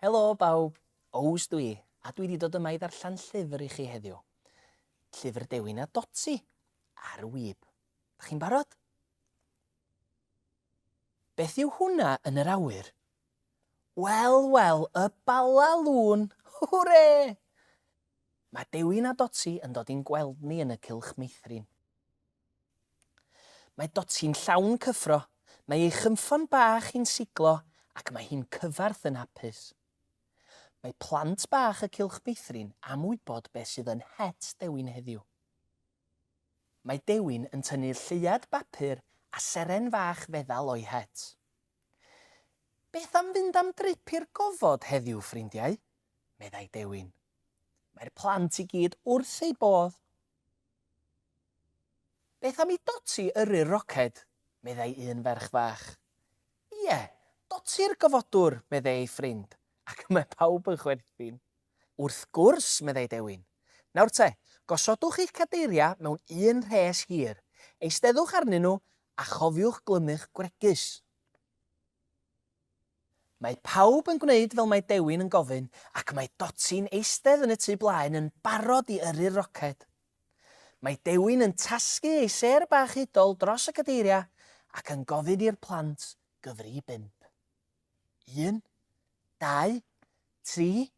Helo bawb, Ows dwi, a dwi wedi dod yma i ddarllen llyfr i chi heddiw. Llyfr Dewin a Dotsi, ar y wyb. Da chi'n barod? Beth yw hwnna yn yr awyr? Wel, wel, y Bala Lôn! Hwre! Mae Dewi na Doti yn dod i'n gweld ni yn y cylch meithrin. Mae Doti'n llawn cyffro, mae ei chynffon bach hi'n siglo ac mae hi'n cyfarth yn hapus. Mae plant bach y cylch meithrin am wybod beth sydd yn het Dewi'n heddiw. Mae Dewin yn tynnu lleuad bapur a seren fach feddal o'i het. Beth am fynd am drip i'r gofod heddiw, ffrindiau? meddai Dewin. Mae'r plant i gyd wrth eu bodd. Beth am i Doti yrru'r roced? meddai un ferch fach. Ie, Doti'r gofodwr, meddai ei ffrind, ac mae pawb yn chwerthin. Wrth gwrs, meddai Dewin. Nawr te, gosodwch eich cadeiriau mewn un rhes hir, eisteddwch arnyn nhw a chofiwch glymu'ch gwregys. Mae pawb yn gwneud fel mae Dewin yn gofyn ac mae Doti'n eistedd yn y tu blaen yn barod i yrru'r roced. Mae Dewin yn tasgu ei sêr bach hudol dros y cadeiriau ac yn gofyn i'r plant gyfri i bump. 1, 2, 3,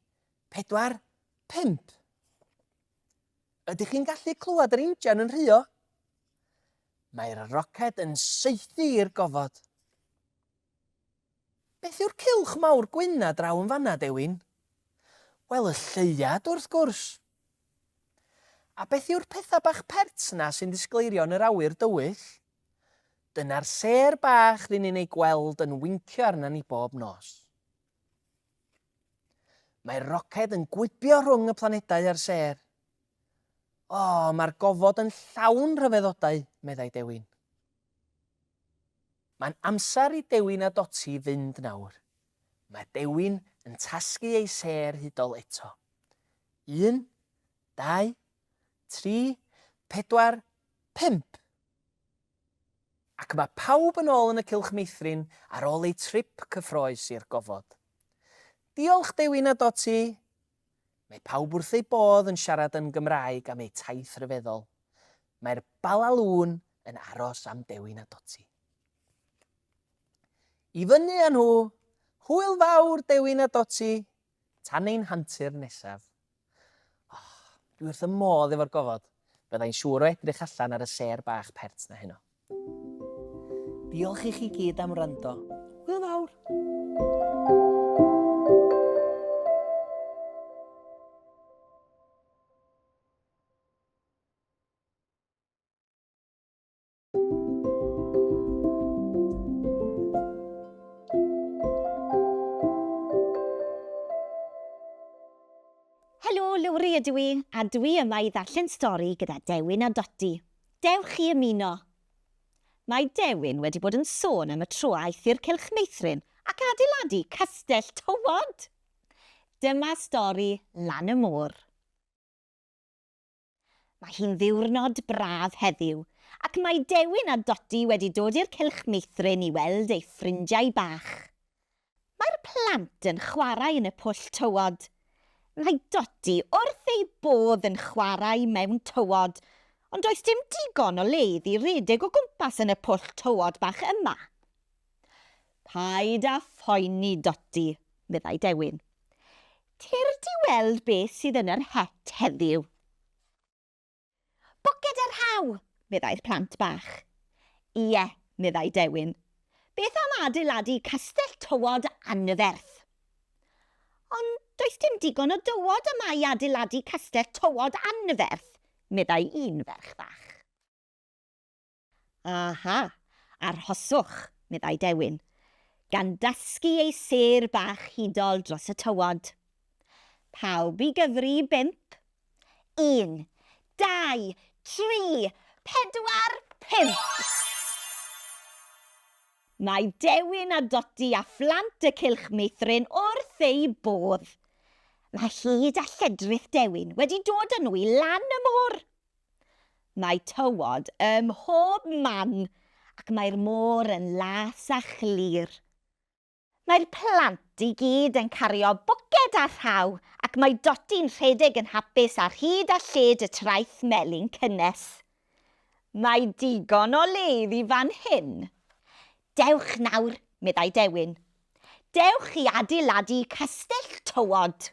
4, 5. Ydych chi'n gallu clywed yr injan yn rhuo? Mae'r roced yn saethu i'r gofod. Beth yw'r cilch mawr gwyn a draw yn fanna, Dewin? Wel, y lleiad, wrth gwrs. A beth yw'r pethau bach pert na sy'n disgleirio yn yr awyr dywyll? Dyna'r sêr bach rŷn ni'n ei gweld yn wincio arna ni bob nos. Mae'r roced yn gwibio rhwng y planedau a'r sêr. O, mae'r gofod yn llawn rhyfeddodau, meddai Dewin. Mae'n amser i Dewin a Doti fynd nawr. Mae Dewin yn tasgu ei sêr hudol eto. Un, dau, tri, pedwar, pump. Ac mae pawb yn ôl yn y cylch meithrin ar ôl eu trip cyffroes i'r gofod. Diolch Dewi na Doti! Mae pawb wrth eu bodd yn siarad yn Gymraeg am eu taith ryfeddol. Mae'r Balalŵn yn aros am Dewi na Doti. I fyny â nhw! Hwyl fawr Dewi na Doti! Tan ein hantur nesaf. Oh, dwi wrth y modd efo'r gofod. Byddai'n siŵr o edrych allan ar y sêr bach pert na heno. Diolch i chi gyd am wrando. Hwyl fawr! Helo, Lowri ydw i, a dwi yma i ddarllen stori gyda Dewin a Dodi. Dewch chi ymuno! Mae Dewin wedi bod yn sôn am y tro aeth i'r Cylch Meithrin ac adeiladu castell tywod! Dyma stori Lan y Môr. Mae hi'n ddiwrnod braf heddiw ac mae Dewin a Dodi wedi dod i'r cylch meithrin i weld eu ffrindiau bach. Mae'r plant yn chwarae yn y pwll tywod. Mae Dodi wrth ei bodd yn chwarae mewn tywod, ond does dim digon o leydd i redeg o gwmpas yn y pwll tywod bach yma. Paid â phoeni, Dodi, meddai Dewin. Cer di weld beth sydd yn yr het heddiw. Bwced a rhaw! meddai'r plant bach. Ie, meddai Dewin. Beth am adeiladu castell tywod anferth? Ond does dim digon o dywod yma i adeiladu castell tywod anferth, meddai un ferch fach. Aha! Arhoswch, meddai Dewin, gan dasgu ei sêr bach hudol dros y tywod. Pawb i gyfri i bump. Un, dau, tri, pedwar, pump! Mae Dewin a Dodi a phlant y Cylch Meithrin wrth eu bodd. Mae hud a lledrith Dewin wedi dod â nhw i lan y môr. Mae tywod ym mhob man ac mae'r môr yn las a chlir. Mae'r plant i gyd yn cario bwced a rhaw ac mae Doti'n rhedeg yn hapus ar hyd a lled y traeth melyn cynnes. Mae digon o le iddi fan hyn. Dewch nawr, meddai Dewin. Dewch i adeiladu castell tywod.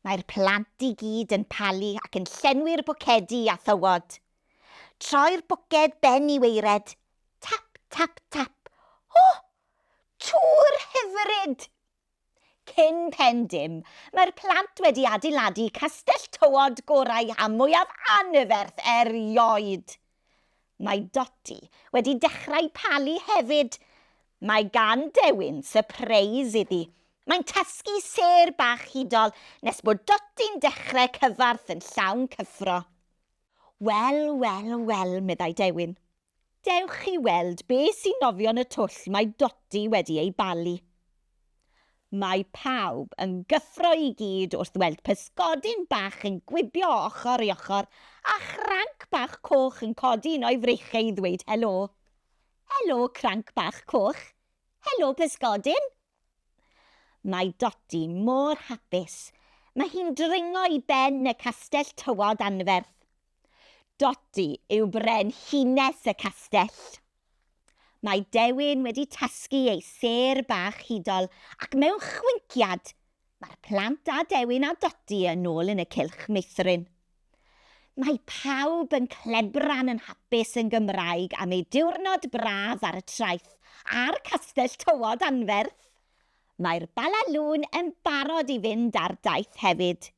Mae'r plant i gyd yn palu ac yn llenwi'r bwcedi â thywod. Troi'r bwced ben i waered. Tap, tap, tap. O! Tŵr hyfryd! Cyn pen dim, mae'r plant wedi adeiladu castell tywod gorau a mwyaf anferth erioed. Mae Dotty wedi dechrau palu hefyd! Mae gan Dewin sypreis iddi. Mae'n tasgu sêr bach hudol nes bod Dotty'n dechrau cyfarth yn llawn cyffro. Wel, wel, wel, meddai Dewin. Dewch i weld be sy'n nofio'n y twll mae Dotty wedi ei balu. Mae pawb yn gyffro i gyd wrth weld pysgodyn bach yn gwibio ochr i ochr a chranc bach coch yn codi un o'i freichiau i ddweud helo. Helo, Cranc Bach Coch! Helo, Pysgodyn! Mae Dodi mor hapus. Mae hi'n dringo i ben y castell tywod anferth. Dodi yw brenhines y castell. Mae Dewin wedi tasgu ei sêr bach hudol ac mewn chwinciad, mae'r plant a Dewin a Dodi yn ôl yn y cylch meithrin. Mae pawb yn clebran yn hapus yn Gymraeg am eu diwrnod braf ar y traeth a'r castell tywod anferth! Mae'r Bala Lŵn yn barod i fynd ar daith hefyd.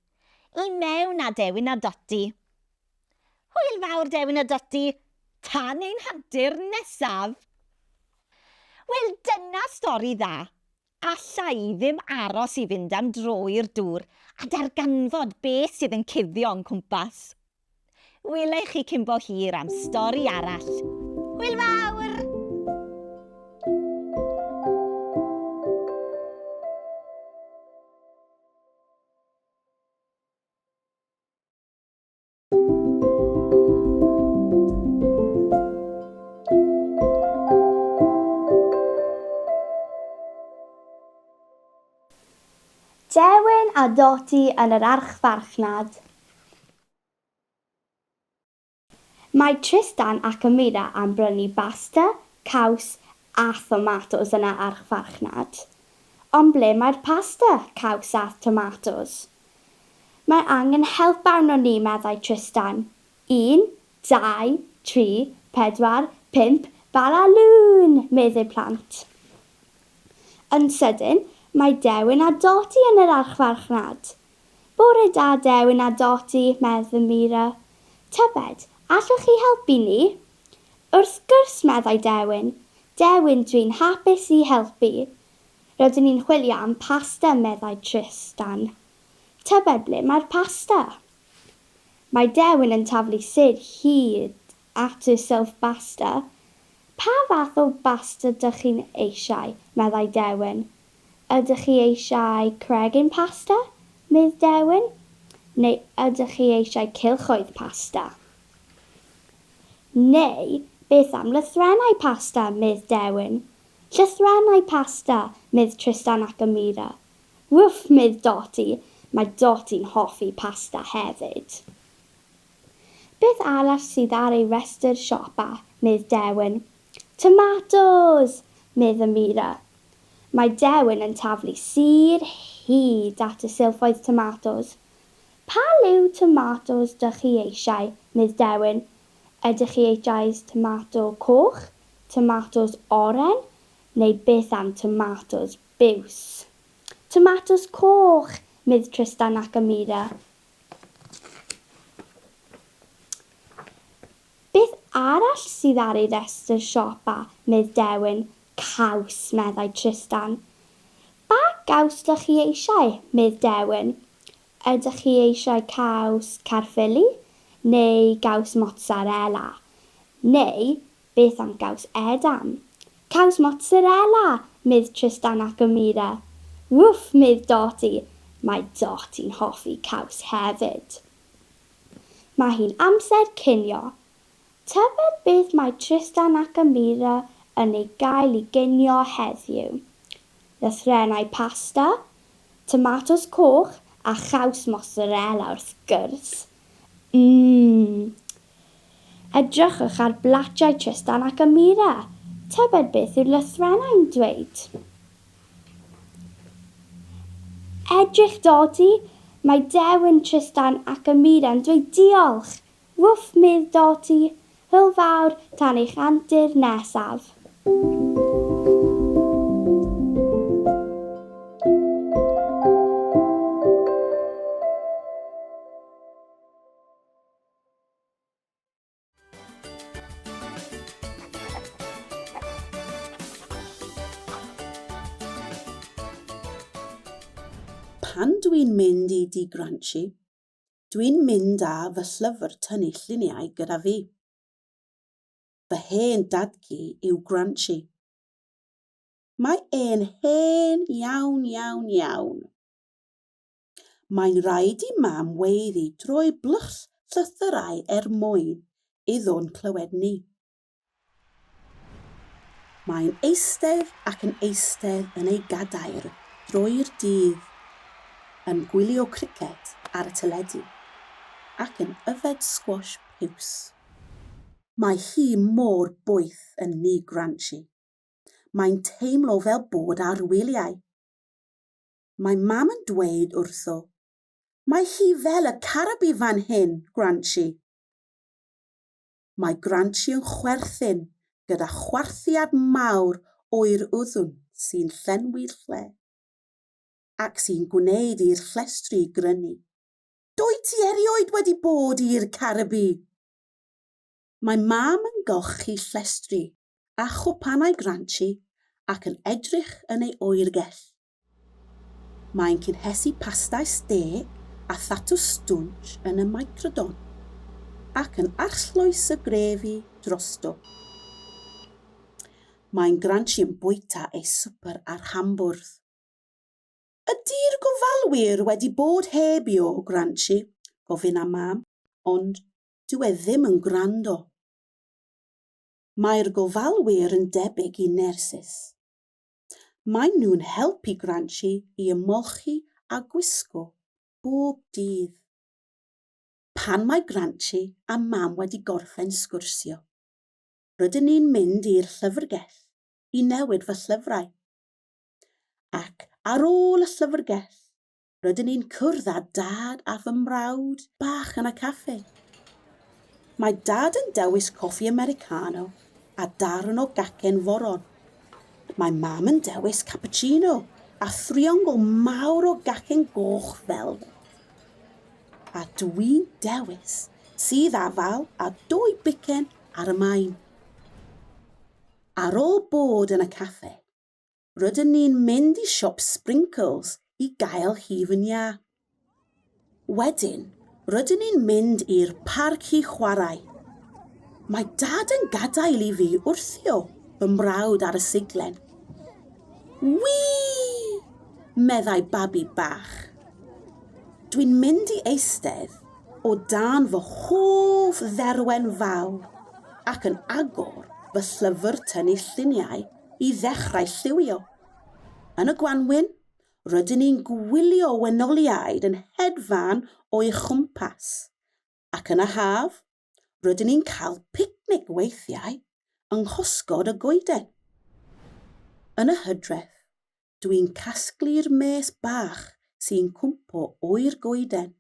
I mewn â Dewin a Dodi! Hwyl fawr Dewin a Dotty, tan ein hantur nesaf! Wel dyna stori dda, alla i ddim aros i fynd am dro i'r dŵr a darganfod be sydd yn cuddio o'n cwmpas. Wela i chi cyn bo hir am stori arall. Hwyl fawr! Dewin a Dodi yn yr archfarchnad. Mae Tristan ac Amira am brynu basta, caws, A thomatos yna ar farchnad. Ond ble mae'r pasta, caws a thomatos? Mae angen help arnon ni, meddai Tristan. Un, dau, tri, pedwar, pump, bala lŵn! meddi'r plant. Yn sydyn, mae Dewin a Dodi yn yr archfarchnad. Bore da Dewin a Dodi, meddw Mira. Tybed, allwch chi helpu ni? Wrth gwrs, meddai Dewin. Dewin, dwi'n hapus i helpu. Rydyn ni'n chwilio am pasta, meddai Tristan. Tybed ble mae'r pasta? Mae Dewin yn taflu sir hyd at y Self Basta. Pa fath o basta dych chi'n eisiau? meddai Dewin. Ydych chi eisiau cregyn pasta? medd Dewin. Neu ydych chi eisiau cylchoedd pasta? Neu beth am lythrennau pasta? medd Dewin. Llythrennau pasta! medd Tristan ac Amira. Wff! medd Doti. Mae Doti'n hoffi pasta hefyd. Beth arall sydd ar ei restr siopa? medd Dewin. Tomatos! medd Amira. Mae Dewin yn taflu sur hyd at y silffoedd tomatos. Pa liw tomatos dych chi eisiau? medd Dewin. Ydych chi eisiau tomato coch, tomatos oren, neu beth am tomatos biws? Tomatos coch! medd Tristan ac Amira. Beth arall sydd ar ei restr siopa, Mydd Dewin? Caws, meddai Trystan. Pa gaws dych chi eisiau, Mydd Dewin? Ydych chi eisiau caws Caerffili neu gaws Mozzarella? Neu Beth am gaws edam? Caws mozzarella! medd Trystan ac Amira. Wwff! medd Doti. Mae Doti'n hoffi caws hefyd. Mae hi'n amser cinio. Tybed beth mae Trystan ac Amira yn ei gael i ginio heddiw? Lythrennau pasta, tomatos coch a chaws mozzarella wrth gwrs. Mmm! Edrychwch ar blatiau Trystan ac Amira. Tybed beth yw'r lythrennau'n dweud? Edrych Dodi, mae dewin Trystan ac Amira'n dweud diolch! Wwff medd Dodi, hwyl fawr tan eich antur nesaf. Pan dwi'n mynd i di Granchi, dwi'n mynd â fy llyfr tynnu lluniau gyda fi. Fy hen dadgu yw Granchi. Mae e'n hen iawn, iawn, iawn. Mae'n rhaid i Mam weiddi drwy blwch llythyrau er mwyn iddo'n clywed ni. Mae'n eistedd ac yn eistedd yn ei gadair drwy'r dydd yn gwylio criced ar y teledu ac yn yfed sgwash piws. Mae hi mor boeth yn Ni Granshi. Mae'n teimlo fel bod ar wyliau. mae Mam yn dweud wrtho. Mae hi fel y carabi fan hyn, Granchi! Mae Granchi yn chwerthin gyda chwarthiad mawr oer uddwn sy'n llenwi'r lle, ac sy'n gwneud i'r llestri grynu. Dwyt ti erioed wedi bod i'r Caribi? Mae Mam yn golchi llestri a chwpanau Granchi ac yn edrych yn ei oergell. Mae'n cynhesu pastau stê a thatws stwnsh yn y Microdon, ac yn arllwys y grefi drosto. Mae'n granshi yn bwyta ei swper ar hambwrdd. Ydi'r gofalwyr wedi bod heb i o granshi? gofyn a Mam, ond dyw e ddim yn gwrando. Mae'r gofalwyr yn debyg i nyrsys. Maen nhw'n helpu Granchi i ymolchi a gwisgo bob dydd. Pan mae Granchi a Mam wedi gorffen sgwrsio, rydyn ni'n mynd i'r llyfrgell i newid fy llyfrau. Ac ar ôl y llyfrgell, rydyn ni'n cwrdd â dad a fy mrawd bach yn y caffi. Mae dad yn dewis coffi Americano a darn o gacen foron. Mae mam yn dewis cappuccino a thriongl mawr o gacen goch fel A dwi'n dewis sydd afal a dwy bicen ar y main. Ar ôl bod yn y caffe, rydyn ni'n mynd i siop Sprinkles i gael hi fy nia. Wedyn, rydyn ni'n mynd i'r parc i chwarae. Mae dad yn gadael i fi wrthio fy mrawd ar y siglen. Wii! meddai babi bach. Dwi'n mynd i eistedd o dan fy hoff dderwen fawr ac yn agor fy llyfr tynnu lluniau i ddechrau lliwio. Yn y gwanwyn, rydyn ni'n gwylio wenoliaid yn hedfan o'i chwmpas, ac yn y haf, rydyn ni'n cael picnic weithiau yng nghosgod y goeden. Yn y hydref, dw i'n casglu'r mês bach sy'n cwmpo oer goeden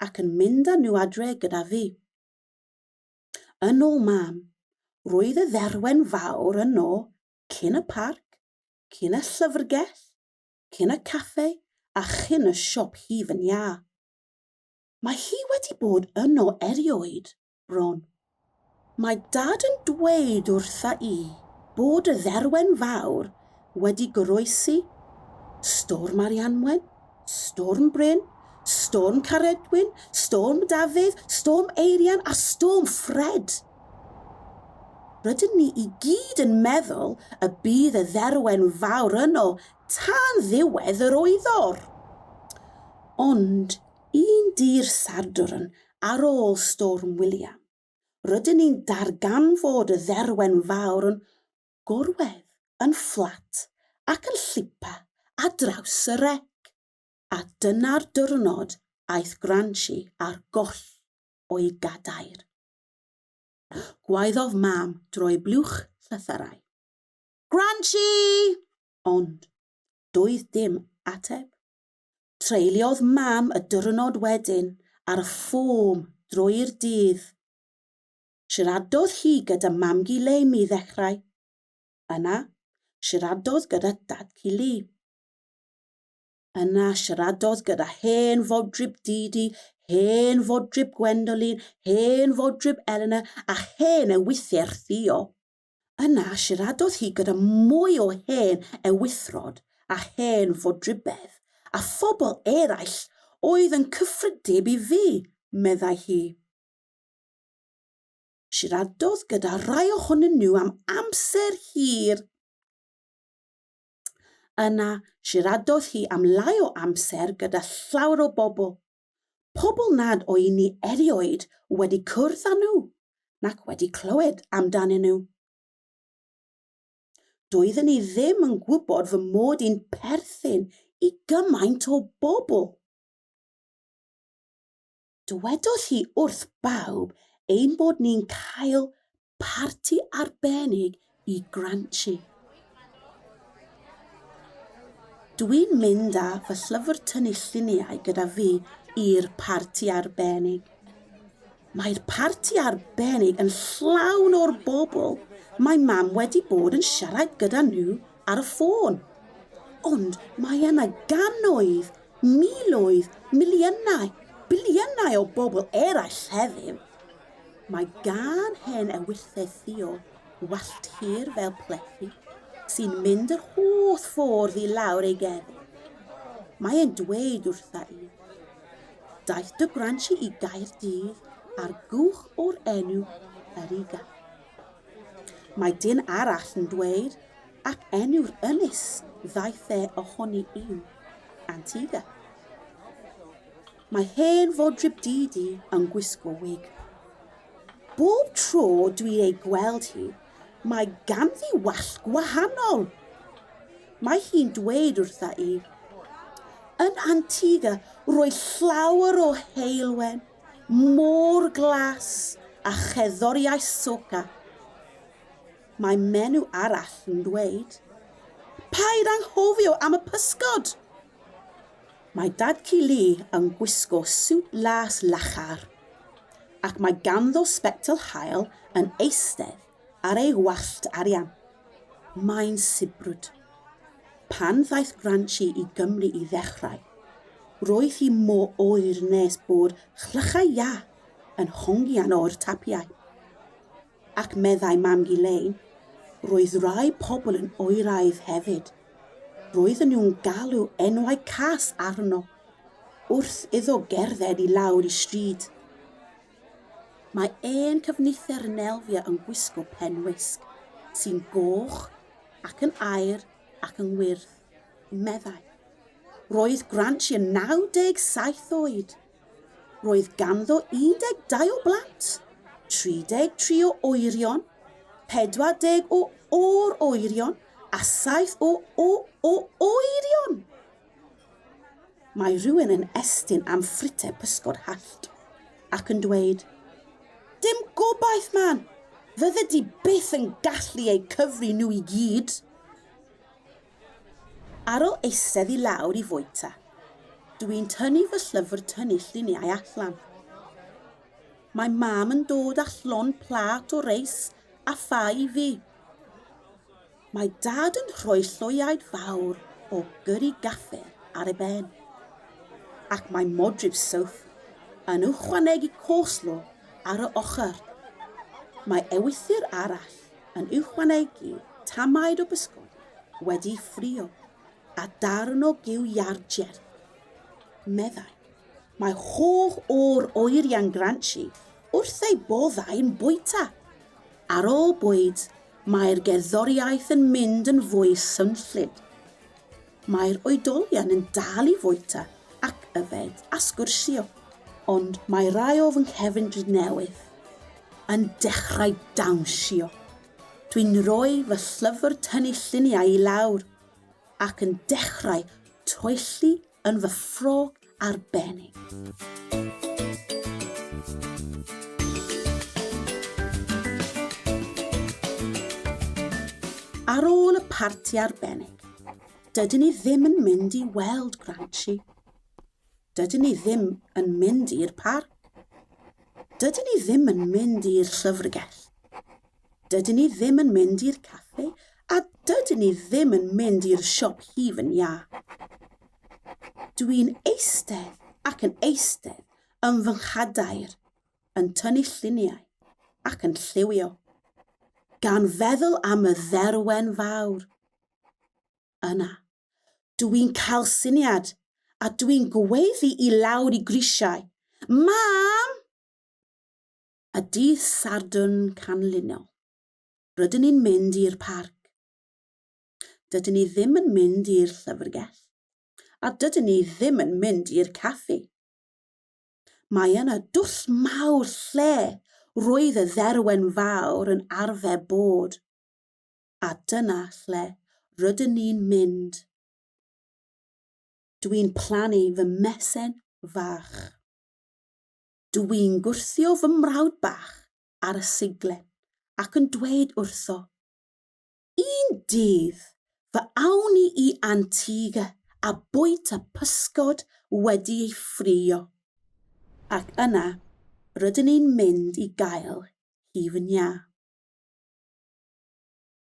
ac yn mynd â nhw adre gyda fi. Yn ôl Mam, roedd y dderwen fawr yno cyn y parc, cyn y llyfrgell, cyn y caffe a chyn y siop hif yn iâ. Mae hi wedi bod yno erioed, bron. Mae Dad yn dweud wrtha i bod y dderwen fawr wedi goroesi, Storm Arianwen, Storm Bryn, Storm Caredwyn, Storm Dafydd, Storm Eirian a Storm Ffred. Rydyn ni i gyd yn meddwl y bydd y dderwen fawr yno tan ddiwedd yr oeddor. Ond un dy'r Sadwrn ar ôl Storm William, rydyn ni'n darganfod y dderwen fawr yn gorwedd yn fflat ac yn llipa ar draws y rec, a dyna'r diwrnod aeth Granshi ar goll o'i gadair. Gwaeddodd Mam drwy blwch llythyrau. Granshi! Ond doedd dim ateb. Treuliodd Mam y diwrnod wedyn ar y ffom drwy'r dydd. siaradodd hi gyda Mam-gu Leim i ddechrau. Yna, siaradodd gyda Dad-cu Li. Yna, siaradodd gyda hen fodryb Didi, hen fodryb Gwendolyn, hen fodryb Eleanor a hen ewythr Theo. Yna, siaradodd hi gyda mwy o hen ewithrod a hen fodrybedd a phobl eraill oedd yn cyffredib i fi, meddai hi. Siaradodd gyda rhai ohonyn nhw am amser hir. Yna, siaradodd hi am lai o amser gyda llawer o bobl. Pobl nad o'i ni erioed wedi cwrdd â nhw nac wedi clywed amdanyn nhw. Doeddwn i ddim yn gwybod fy mod i'n perthyn i gymaint o bobl. Dywedodd hi wrth bawb ein bod ni'n cael parti arbennig i Granchi. Dwi'n mynd â fy llyfr tynnu lluniau gyda fi i'r parti arbennig. Mae'r parti arbennig yn llawn o'r bobl mae mam wedi bod yn siarad gyda nhw ar y ffôn. Ond mae yna gannoedd, miloedd, miliynau, biliynau o bobl eraill heddiw. Mae gan hen ewylledd Theo wallt hir fel plethu sy'n mynd yr holl ffordd i lawr ei gerdd. Mae e'n dweud wrtha i, daeth dy gwransi i Gaerdydd ar gwch o'r enw Eriga. Mae dyn arall yn dweud, ac enw'r ynys ddaeth e ohoni yw Antigua. Mae hen fodryb Didi yn gwisgo wig. Bob tro dwi'n ei gweld hi, mae ganddi wallt gwahanol. Mae hi'n dweud wrtha i, Yn Antigua, roedd llawer o heulwen, Môr Glas a cherddoriaeth Soca. Mae menyw arall yn dweud, Paid anghofio am y pysgod! Mae Dad-cu Lee yn gwisgo siwt las lachar, ac mae ganddo sbectol haul yn eistedd Ar ei wallt arian, mae'n sibrwd. Pan ddaeth Granchi i Gymru i ddechrau, roedd hi mo oer nes bod chlychau iâ yn hongian o'r tapiau. Ac meddai Mam-gu Lein, roedd rhai pobl yn oeraidd hefyd. Roedden nhw'n galw enwau cas arno, wrth iddo gerdded i lawr y stryd. Mae ein cyfnither yn elfio yn gwisgo pen wisg sy'n goch ac yn aur ac yn wyrdd, meddai. Roedd Granchi yn 97 oed. Roedd ganddo 12 o blant, 33 o oerion, 40 o or-oerion a 7 o o-o-oerion! Mae rhywun yn estyn am ffrite pysgod hallt ac yn dweud, Dim gobaith, man! Fydde di byth yn gallu eu cyfri nhw i gyd! Ar ôl eistedd i lawr i fwyta, dw i'n tynnu fy llyfr tynnu lluniau allan. Mae mam yn dod â llond plat o reis a ffa i fi. Mae Dad yn rhoi lloiaid fawr o gyri gaffe ar ei ben, ac mae modryb Soph yn ychwanegu coleslaw ar y ochr. Mae ewythr arall yn ychwanegu tamaid o bysgod wedi'i ffrio a darn o giw iâr jerth, meddai. Mae holl o'r oeriau'n granshi wrth eu boddau'n bwyta. Ar ôl bwyd, Mae'r gerddoriaeth yn mynd yn fwy swnllyd. Mae'r oedolion yn dal i fwyta ac yfed a sgwrsio, ond mae rai o fy nghefndir newydd yn dechrau dawnsio. Dwi'n rhoi fy llyfr tynnu lluniau i lawr ac yn dechrau toelli yn fy ffrog arbennig. Ar ôl y parti arbennig, dydyn ni ddim yn mynd i weld Granchi. Dydyn ni ddim yn mynd i'r parc. Dydyn ni ddim yn mynd i'r llyfrgell. Dydyn ni ddim yn mynd i'r caffi a dydyn ni ddim yn mynd i'r siop hif yn ia. Dwi'n eistedd ac yn eistedd yn fy nghadair, yn tynnu lluniau ac yn lliwio, gan feddwl am y dderwen fawr. Yna, dwi'n cael syniad a dwi'n gweiddi i lawr i grisiau, Mam! a dydd Sadwrn canlynol, rydyn ni'n mynd i'r parc. Dydyn ni ddim yn mynd i'r llyfrgell, a dydyn ni ddim yn mynd i'r caffi. Mae yna dwll mawr lle roedd y dderwen fawr yn arfer bod, a dyna lle rydyn ni'n mynd. Dwi'n plannu fy mesen fach. Dw i'n gwthio fy mrawd bach ar y seiglen ac yn dweud wrtho, Un dydd, fe awn ni i Antigua a bwyta pysgod wedi ei ffrio. Ac yna, rydyn ni'n mynd i gael hi fy nha.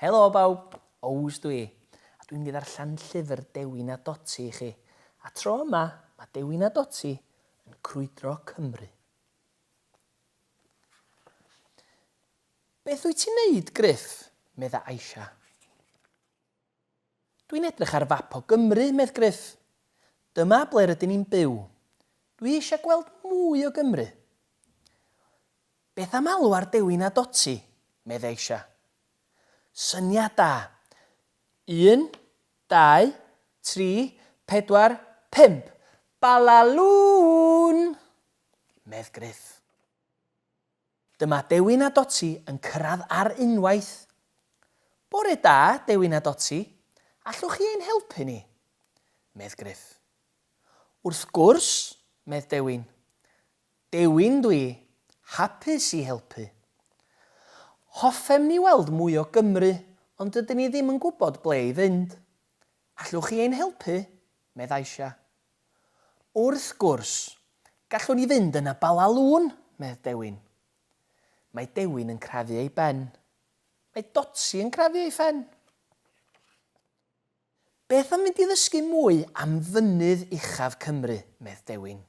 Helo bawb! Ows dw i, a dwi'n mynd i ddarllen llyfr Dewi na Doti i chi. A tro yma, mae Dewi na Doti yn crwydro Cymru. Beth wyt ti'n neud, Gruff? medda Aisha. Dwi'n edrych ar fap o Gymru, medd Gruff. Dyma ble rydyn ni'n byw. Dwi eisiau gweld mwy o Gymru. Beth am alw ar Dewi na Dotty? medd Aisha. Syniad da! Un, dau, tri, pedwar, pump! Balalŵn! medd Gruff. Dyma Dewin a Doti yn cyrraedd ar unwaith. Bore da, Dewin a Doti, allwch chi ein helpu ni? medd Gruff. Wrth gwrs, medd Dewin. Dewin dw i, hapus i helpu. Hoffem ni weld mwy o Gymru, ond dydyn ni ddim yn gwybod ble i fynd. Allwch chi ein helpu? medd Aisha. Wrth gwrs, gallwn i fynd yna Bala Lŵn, medd Dewin. Mae Dewin yn crafu ei ben. Mae Dotsi yn crafu ei phen. Beth am fynd i ddysgu mwy am fynydd uchaf Cymru, medd Dewin.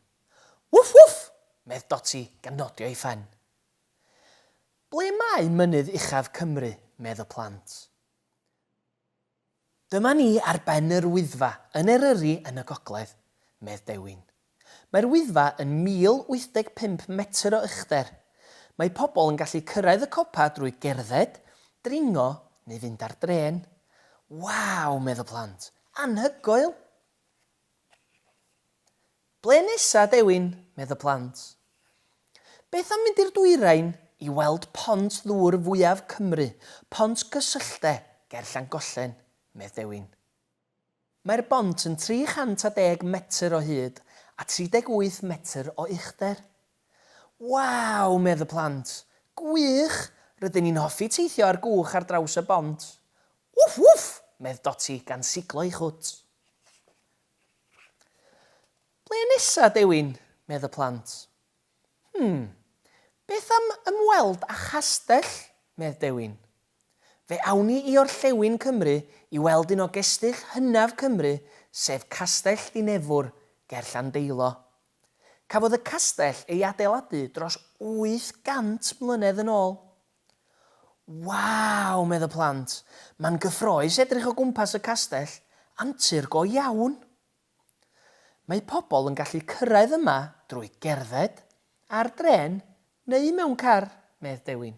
Wff wff! medd Dotsi gan nodio ei phen. Ble mae mynydd uchaf Cymru, medd y plant. Dyma ni ar ben yr Wyddfa yn Eryri yn y gogledd, medd Dewin. Mae'r Wyddfa yn 1,085 metr o uchder. Mae pobl yn gallu cyrraedd y copa drwy gerdded, dringo neu fynd ar drên. Waw, medd y plant. Anhygoel! Ble nesa, Dewin? medd y plant. Beth am fynd i'r dwyrain i weld pont ddŵr fwyaf Cymru, Pont Gysylltde, ger Llangollen? medd Dewin. Mae'r bont yn 310 metr o hyd a 38 metr o uchder. Waw! medd y plant. Gwych! Rydyn ni'n hoffi teithio ar gwch ar draws y bont. Wff wff! medd Doti gan siglo ei chwt. Ble nesa, Dewin? medd y plant. Hm, beth am ymweld â chastell? medd Dewin. Fe awn ni i orllewin Cymru i weld un o gestyll hynaf Cymru sef Castell Ddinefwr ger Llandeilo. Cafodd y castell ei adeiladu dros 800 mlynedd yn ôl. Waw! medd y plant. Mae'n gyffroes edrych o gwmpas y castell, antur go iawn! Mae pobl yn gallu cyrraedd yma drwy gerdded, ar drên neu mewn car, medd Dewin.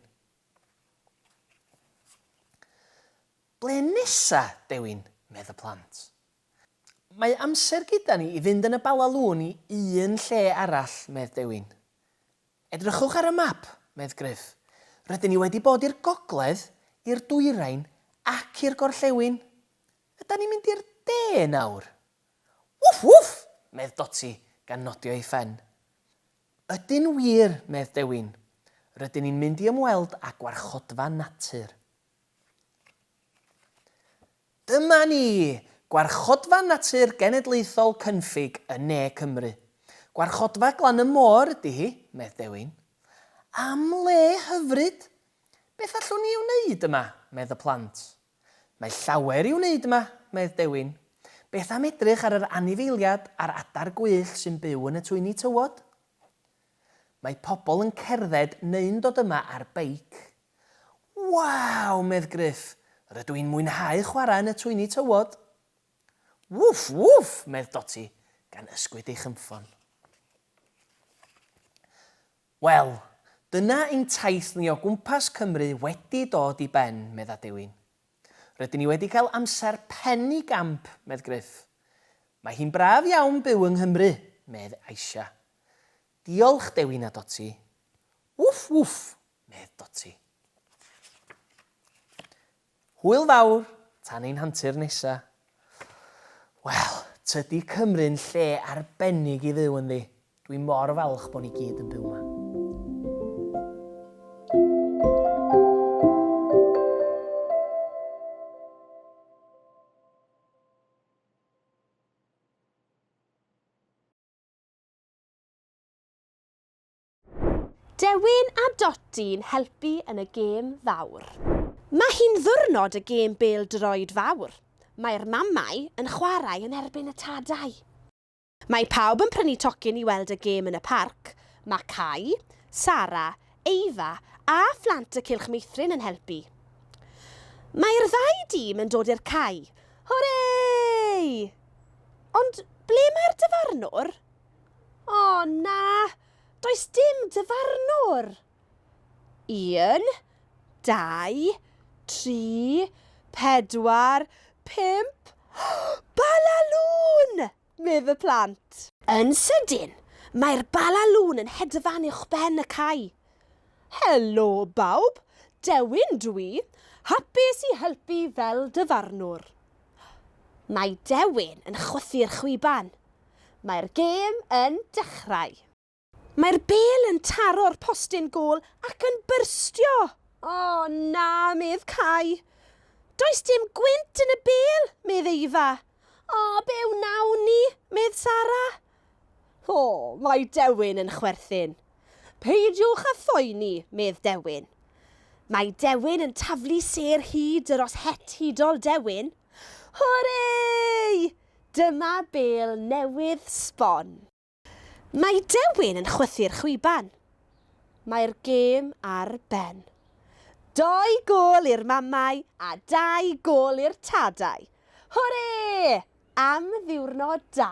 Ble nesa, Dewin? medd y plant. Mae amser gyda ni i fynd yn y Bala Lŵn i un lle arall, medd Dewin. Edrychwch ar y map, medd Gruff. Rydyn ni wedi bod i'r gogledd, i'r dwyrain ac i'r gorllewin. Ydan ni'n mynd i'r de nawr? Wff, wff! medd Dotty, gan nodio ei phen. Ydyn wir, medd Dewin. Rydyn ni'n mynd i ymweld â gwarchodfa natur. Dyma ni! Gwarchodfa Natur Genedlaethol Cynffig yn ne Cymru. Gwarchodfa glan y môr ydy hi, medd Dewin. Am le hyfryd! Beth allwn ni ei wneud yma? medd y plant. Mae llawer i'w wneud yma, medd Dewin. Beth am edrych ar yr anifeiliad a'r adar gwyllt sy'n byw yn y twyni tywod? Mae pobl yn cerdded neu'n dod yma ar beic. Waw! medd Gruff, rydw i'n mwynhau chwarae yn y twyni tywod! Wwff! Wwff! medd Dotty, gan ysgwyd ei chynffon. Wel, dyna ein taith ni o gwmpas Cymru wedi dod i ben, medd Adewin. Rydyn ni wedi cael amser pen i gamp, medd Gruff. Mae hi'n braf iawn byw yng Nghymru, medd Aisha. Diolch, Dewin a Dotty. Wwff! Wwff! medd Dotty. Hwyl fawr, tan ein hantur nesa. Wel, tydi Cymru'n lle arbennig i fyw ynddi. Dwi mor falch bo ni gyd yn byw 'ma. Dewin a Doti'n helpu yn y gêm fawr. Mae hi'n ddiwrnod y gêm bêl-droed fawr. Mae'r mamau yn chwarae yn erbyn y tadau. Mae pawb yn prynu tocyn i weld y gêm yn y parc. Mae Cai, Sara, Eifa a phlant y Cylch Meithrin yn helpu. Mae'r ddau dîm yn dod i'r cae. Hwrê! Ond ble mae'r dyfarnwr? O, na! Does dim dyfarnwr! Un, dau, tri, pedwar, pump, Balalŵn! medd y plant. Yn sydyn, mae'r Balalŵn yn hedfan uwchben y cae. Helo, bawb! Dewin dw i, hapus i helpu fel dyfarnwr. Mae Dewin yn chwythu'r chwiban. Mae'r gêm yn dechrau. Mae'r bêl yn taro'r postyn gôl ac yn byrstio! O na, medd Cai. Does dim gwynt yn y bêl, medd Eifa. O, be wnawn ni? medd Sara. O, mae Dewin yn chwerthin. Peidiwch â phoeni, medd Dewin. Mae Dewin yn taflu sêr hyd yr os het hudol Dewin. Hwrê! Dyma bêl newydd sbon. Mae Dewin yn chwythu'r chwiban. Mae'r gêm ar ben. Dou gôl i'r mamau a dau gôl i'r tadau. Hwrê! Am ddiwrnod da!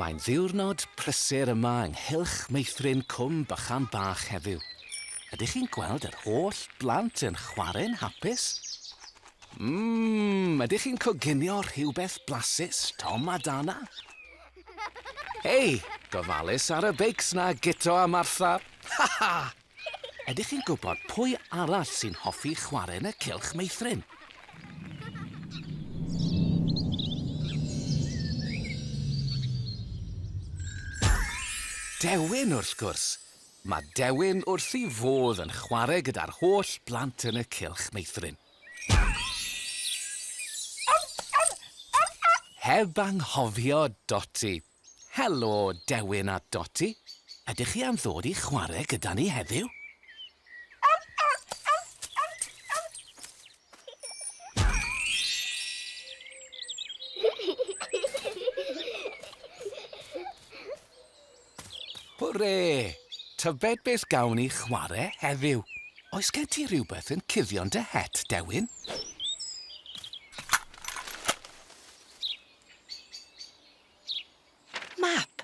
Mae'n ddiwrnod prysur yma ynghylch meithrin Cwm Bychan Bach heddiw. Ydych chi'n gweld yr holl blant yn chwarae'n hapus? Mmm, ydych chi'n coginio rhywbeth blasus, Tom a Dana? Hei, gofalus ar y beics 'na, Guto a Martha! Ha ha! Ydych chi'n gwybod pwy arall sy'n hoffi chwarae yn y cylch meithrin? Dewin, wrth gwrs! Mae Dewin wrth ei fodd yn chwarae gyda'r holl blant yn y cylch meithrin. Heb anghofio Doti. Helo, Dewin a Doti. Ydych chi am ddod i chwarae gyda ni heddiw? Hwre! Tybed beth gawn ni chwarae heddiw? Oes gen ti rhywbeth yn cuddio'n dy het, Dewin? Map!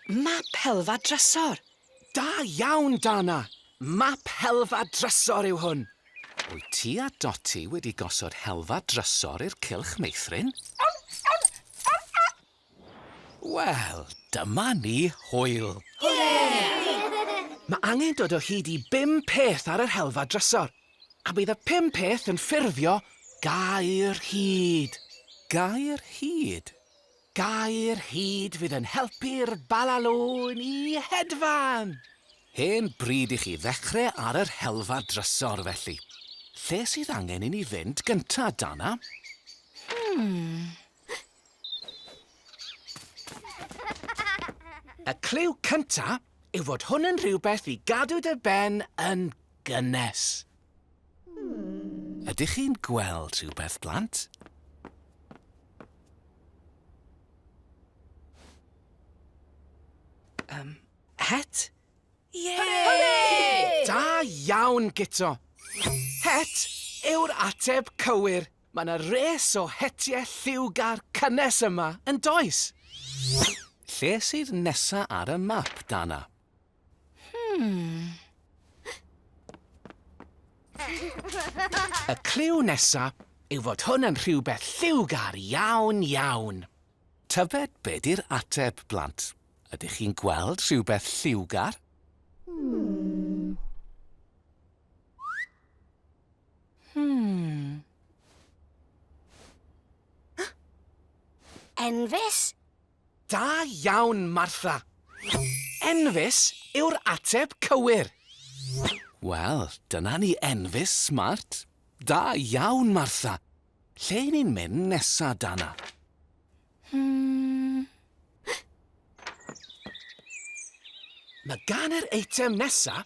Map helfa drysor! Da iawn, Dana! Map helfa drysor yw hwn! Wyt ti a Dotty wedi gosod helfa drysor i'r cylch meithrin? Wel, dyma ni, hwyl! Mae angen dod o hyd i bum peth ar yr helfa drysor, a bydd y pum peth yn ffurfio gair hud. Gair hud? Gair hud fydd yn helpu'r balalôn i hedfan! Hen bryd i chi ddechrau ar yr helfa drysor, felly. Lle sydd angen i ni fynd gynta, Dana? Y cliw cynta yw fod hwn yn rhywbeth i gadw dy ben yn gynnes. Ydych chi'n gweld rhywbeth, blant? Um, het? Ie! Da iawn, Guto! Het yw'r ateb cywir. Mae yna res o hetiau lliwgar cynnes yma, yn does? Lle sydd nesa ar y map, Dana? Y cliw nesa yw fod hwn yn rhywbeth lliwgar iawn, iawn. Tybed be di'r ateb, blant? Ydych chi'n gweld rhywbeth lliwgar? Enfys? Da iawn, Martha! Enfys yw'r ateb cywir. Wel, dyna ni Enfys, smart. Da iawn, Martha! Lle i ni'n mynd nesa, Dana? Hmm. Mae gan yr eitem nesa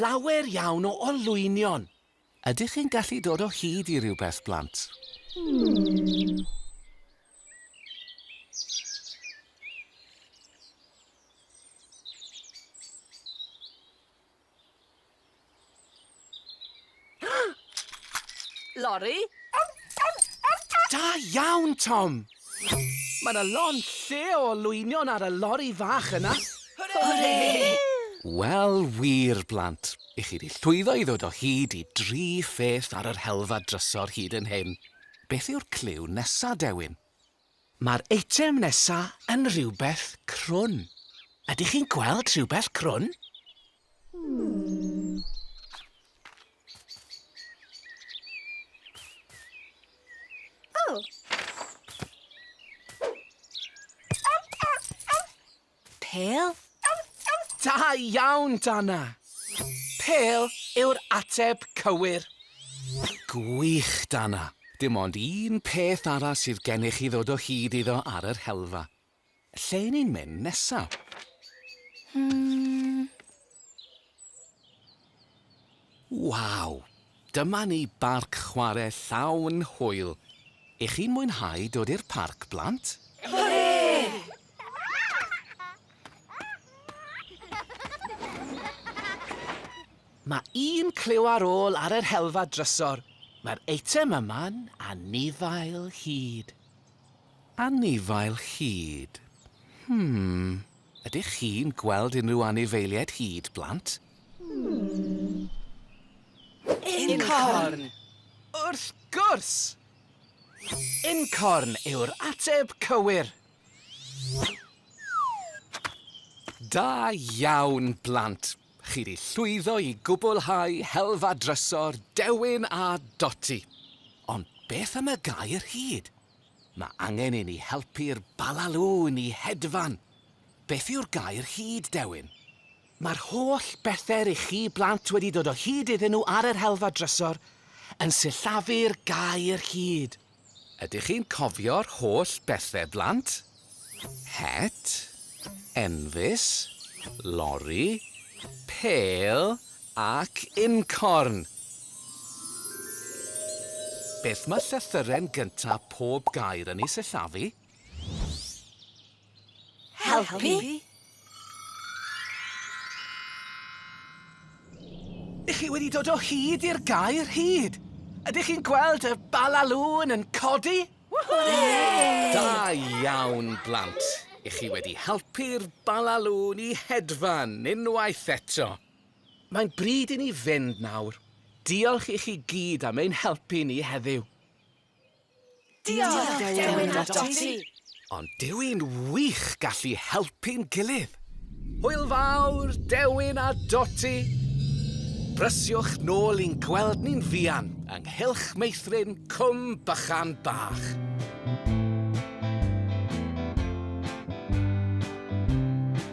lawer iawn o olwynion. Ydych chi'n gallu dod o hyd i rywbeth, blant? Lori? Da iawn, Tom! Mae 'na lond lle o olwynion ar y lori fach yna! Hwre! Wel wir, blant, i chi 'di llwyddo i ddod o hyd i dri pheth ar yr helfa drysor hyd yn hyn. Beth yw'r cliw nesa, Dewin? Mae'r eitem nesa yn rhywbeth crwn. Ydych chi'n gweld rhywbeth crwn? Pêl? Da iawn, Dana! Pêl yw'r ateb cywir. Gwych, Dana. Dim ond un peth arall sydd gennych i ddod o hyd iddo ar yr helfa. Lle y'n ni'n mynd nesa? Hmm. Waw! Dyma ni barc chware llawn hwyl! Y'ch chi'n mwynhau dod i'r parc, blant? Mae un cliw ar ôl ar yr helfa drysor. Mae'r eitem yma'n anifail hud. Anifail hud. Hmm. Ydych chi'n gweld unrhyw anifeiliaid hud, blant? Incorn! Wrth gwrs! Incorn yw'r ateb cywir! Da iawn, blant! Chi 'di llwyddo i gwblhau helfa drysor Dewin a Doti. Ond beth am y gair hud? Mae angen i ni helpu'r Balalŵn i hedfan. Beth yw'r gair hud, Dewin? Mae'r holl bethe rych chi blant wedi dod o hyd iddyn nhw ar yr helfa drysor yn sillafu'r gair hud. Ydych chi'n cofio'r holl bethe blant? Het, enfys, lori, pêl ac uncorn! Beth mae llythyren gynta' pob gair yn ei sillafu? Helpu? Helpu? Ydych chi wedi dod o hyd i'r gair hyd? Ydych chi'n gweld y balalŵn yn codi? Da iawn, blant. I chi wedi helpu'r balalŵn i hedfan unwaith eto. Mae'n bryd i ni fynd nawr. Diolch i chi gyd am ein helpu ni heddiw. Diolch, dewin a Dotty! Ond dyw hi'n wych gallu helpu'n gilydd! Hwyl fawr, Dewin a Dotty! Brysiwch nôl i'n gweld ni'n fuan ynghylch meithrin Cwm Bychan Bach.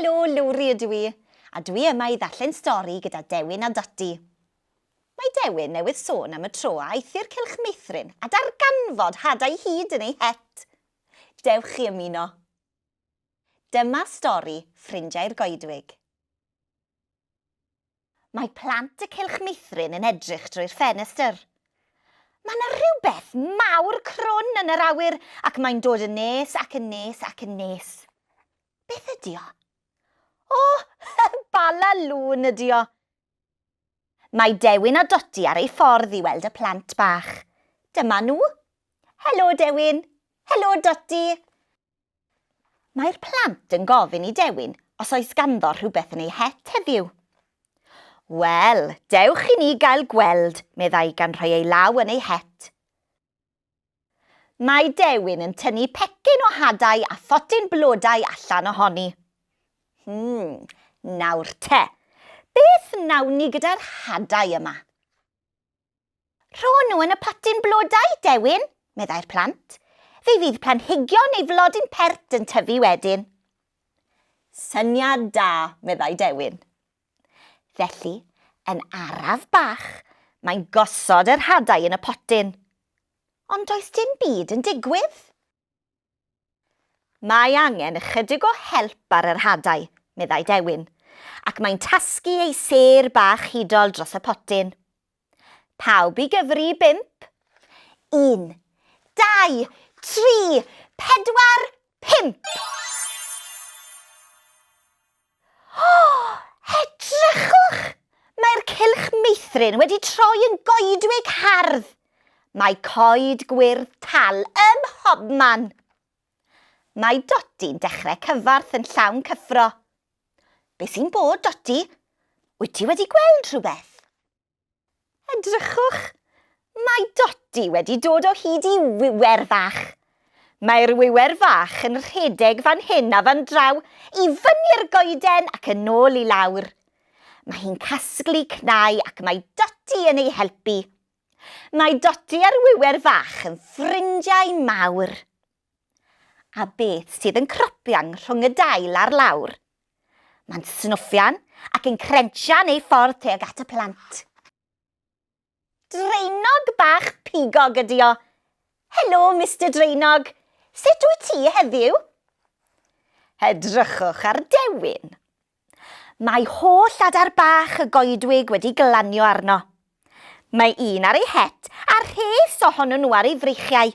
Helo, Lowri ydw i, a dwi yma i ddarllen stori gyda Dewin a Dodi. Mae Dewin newydd sôn am y tro a aeth i'r Cylch Meithrin a darganfod hadau hud yn ei het. Dewch chi ymuno. Dyma stori Ffrindiau'r Goedwig. Mae plant y Cylch Meithrin yn edrych drwy'r ffenestr. Mae 'na rhywbeth mawr crwn yn yr awyr ac mae'n dod yn nes ac yn nes ac yn nes. Beth ydi o? O! Bala lŵn ydi o! Mae Dewin a Dodi ar eu ffordd i weld y plant bach. Dyma nhw. Helo, Dewin. Helo, Dodi. Mae'r plant yn gofyn i Dewin os oes ganddo rhywbeth yn ei het heddiw. Wel, dewch i ni gael gweld, meddai gan rhoi ei law yn ei het. Mae Dewin yn tynnu pecyn o hadau a photyn blodau allan ohoni. Hmm, nawr te, beth wnawn ni gyda'r hadau yma? Rho nhw yn y potyn blodau, Dewin, meddai'r plant. Fe fydd planhigion neu flodyn pert yn tyfu wedyn. Syniad da, meddai Dewin. Felly, yn araf bach, mae'n gosod yr hadau yn y potyn. Ond does dim byd yn digwydd. Mae angen ychydig o help ar yr hadau, meddai Dewin, ac mae'n tasgu ei sêr bach hudol dros y potyn. Pawb i gyfri i bump? Un, dau, tri, pedwar, pump! O! Edrychwch! Mae'r cylch meithrin wedi troi yn goedwig hardd! Mae coed gwyrdd tal ym mhobman! Mae Dodi'n dechrau cyfarth yn llawn cyffro. Be sy'n bod, Dodi? Wyt ti wedi gweld rhywbeth? Edrychwch! Mae Dodi wedi dod o hyd i wiwer fach. Mae'r wiwer fach yn rhedeg fan hyn a fan draw, i fyny'r goeden ac yn ôl i lawr. Mae hi'n casglu cnau ac mae Dodi yn ei helpu. Mae Dodi a'r wiwer fach yn ffrindiau mawr. A beth sydd yn cropian rhwng y dail a'r lawr? Mae'n snwffian ac yn crensian ei ffordd tuag at y plant. Draenog bach pigog ydi o. Helo, Mister Draenog. Sut wyt ti heddiw? Edrychwch ar Dewin. Mae holl adar bach y goedwig wedi glanio arno. Mae un ar ei het a rhes ohonyn nhw ar ei freichiau.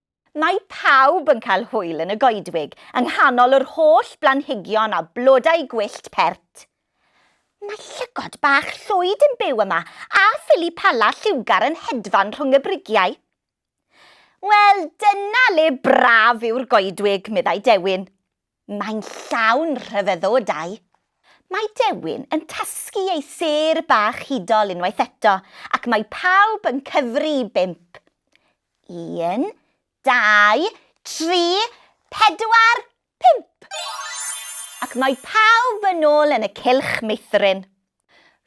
Mae pawb yn cael hwyl yn y goedwig yng nghanol yr holl blanhigion a blodau gwyllt pert. Mae llygod bach llwyd yn byw yma a phili pala lliwgar yn hedfan rhwng y brigiau. Wel, dyna le braf yw'r goedwig, meddai Dewin. Mae'n llawn rhyfeddodau. Mae Dewin yn tasgu ei sêr bach hudol unwaith eto ac mae pawb yn cyfri i bump. Un, dau, tri, pedwar, pump! Ac mae pawb yn ôl yn y cylch meithrin.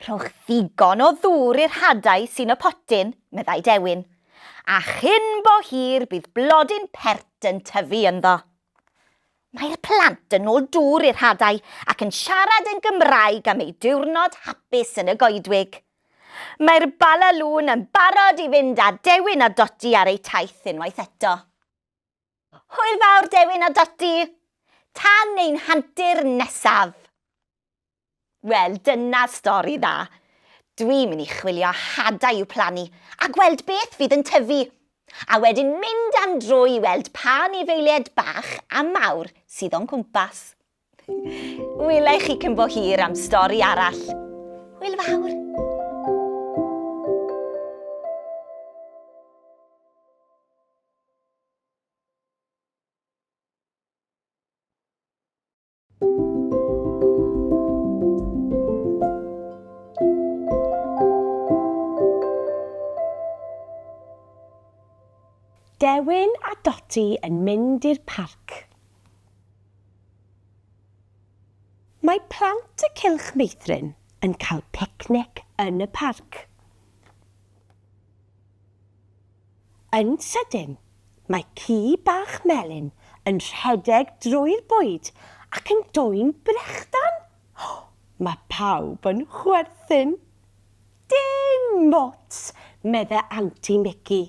Rhowch ddigon o ddŵr i'r hadau sy'n y potyn, meddai Dewin, a chyn bo hir bydd blodyn pert yn tyfu ynddo. Mae'r plant yn ôl dŵr i'r hadau ac yn siarad yn Gymraeg am eu diwrnod hapus yn y goedwig. Mae'r Bala Lŵn yn barod i fynd â Dewin a Dodi ar eu taith unwaith eto. Hwyl fawr, Dewin a Dodi! Tan ein hantur nesaf! Wel, dyna stori dda. Dwi'n mynd i chwilio hadau i'w plannu a gweld beth fydd yn tyfu, a wedyn mynd am dro i weld pa anifeiliaid bach a mawr sydd o'n cwmpas. Wela i chi cyn bo hir am stori arall. Hwyl fawr! Dewin a Doti yn mynd i'r parc. Mae plant y Cylch Meithrin yn cael picnic yn y parc. Yn sydyn, mae ci bach melyn yn rhedeg drwy'r bwyd ac yn dwyn brechdan! Mae pawb yn chwerthin. Dim ots, medde Anti Mici,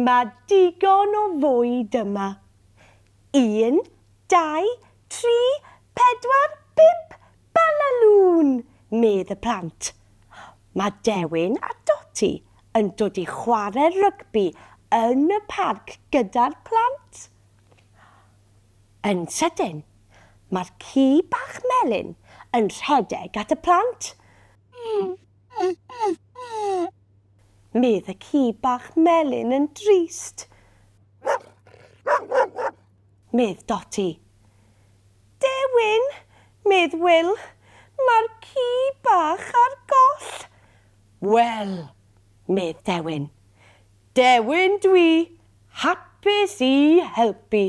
mae digon o fwyd yma. Un, dau, tri, pedwar, pump, Balalŵn! medd y plant. Mae Dewin a Doti yn dod i chwarae rygbi yn y parc gyda'r plant. Yn sydyn, mae'r ci bach melyn yn rhedeg at y plant. Medd y ci bach melyn yn drist. medd Dotty. Dewin! medd Wil, mae'r ci bach ar goll! Wel! medd Dewin. Dewin dwi, hapus i helpu.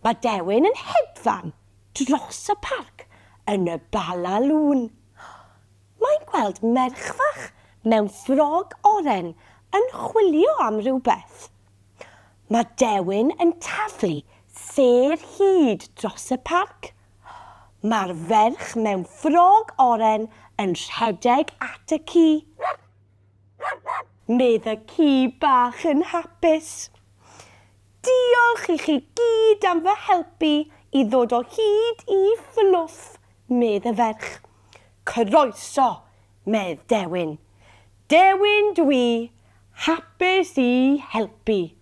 Mae Dewin yn hedfan dros y parc yn y Bala Lŵn. Mae'n gweld merch fach mewn ffrog oren yn chwilio am rywbeth. Mae Dewin yn taflu sêr hyd dros y parc. Mae'r ferch mewn ffrog oren yn rhedeg at y ci. Medd y ci bach yn hapus. Diolch i chi gyd am fy helpu i ddod o hyd i fluff, medd y ferch. Croeso Medd Dewin. Dewin dwi hapus i helpu.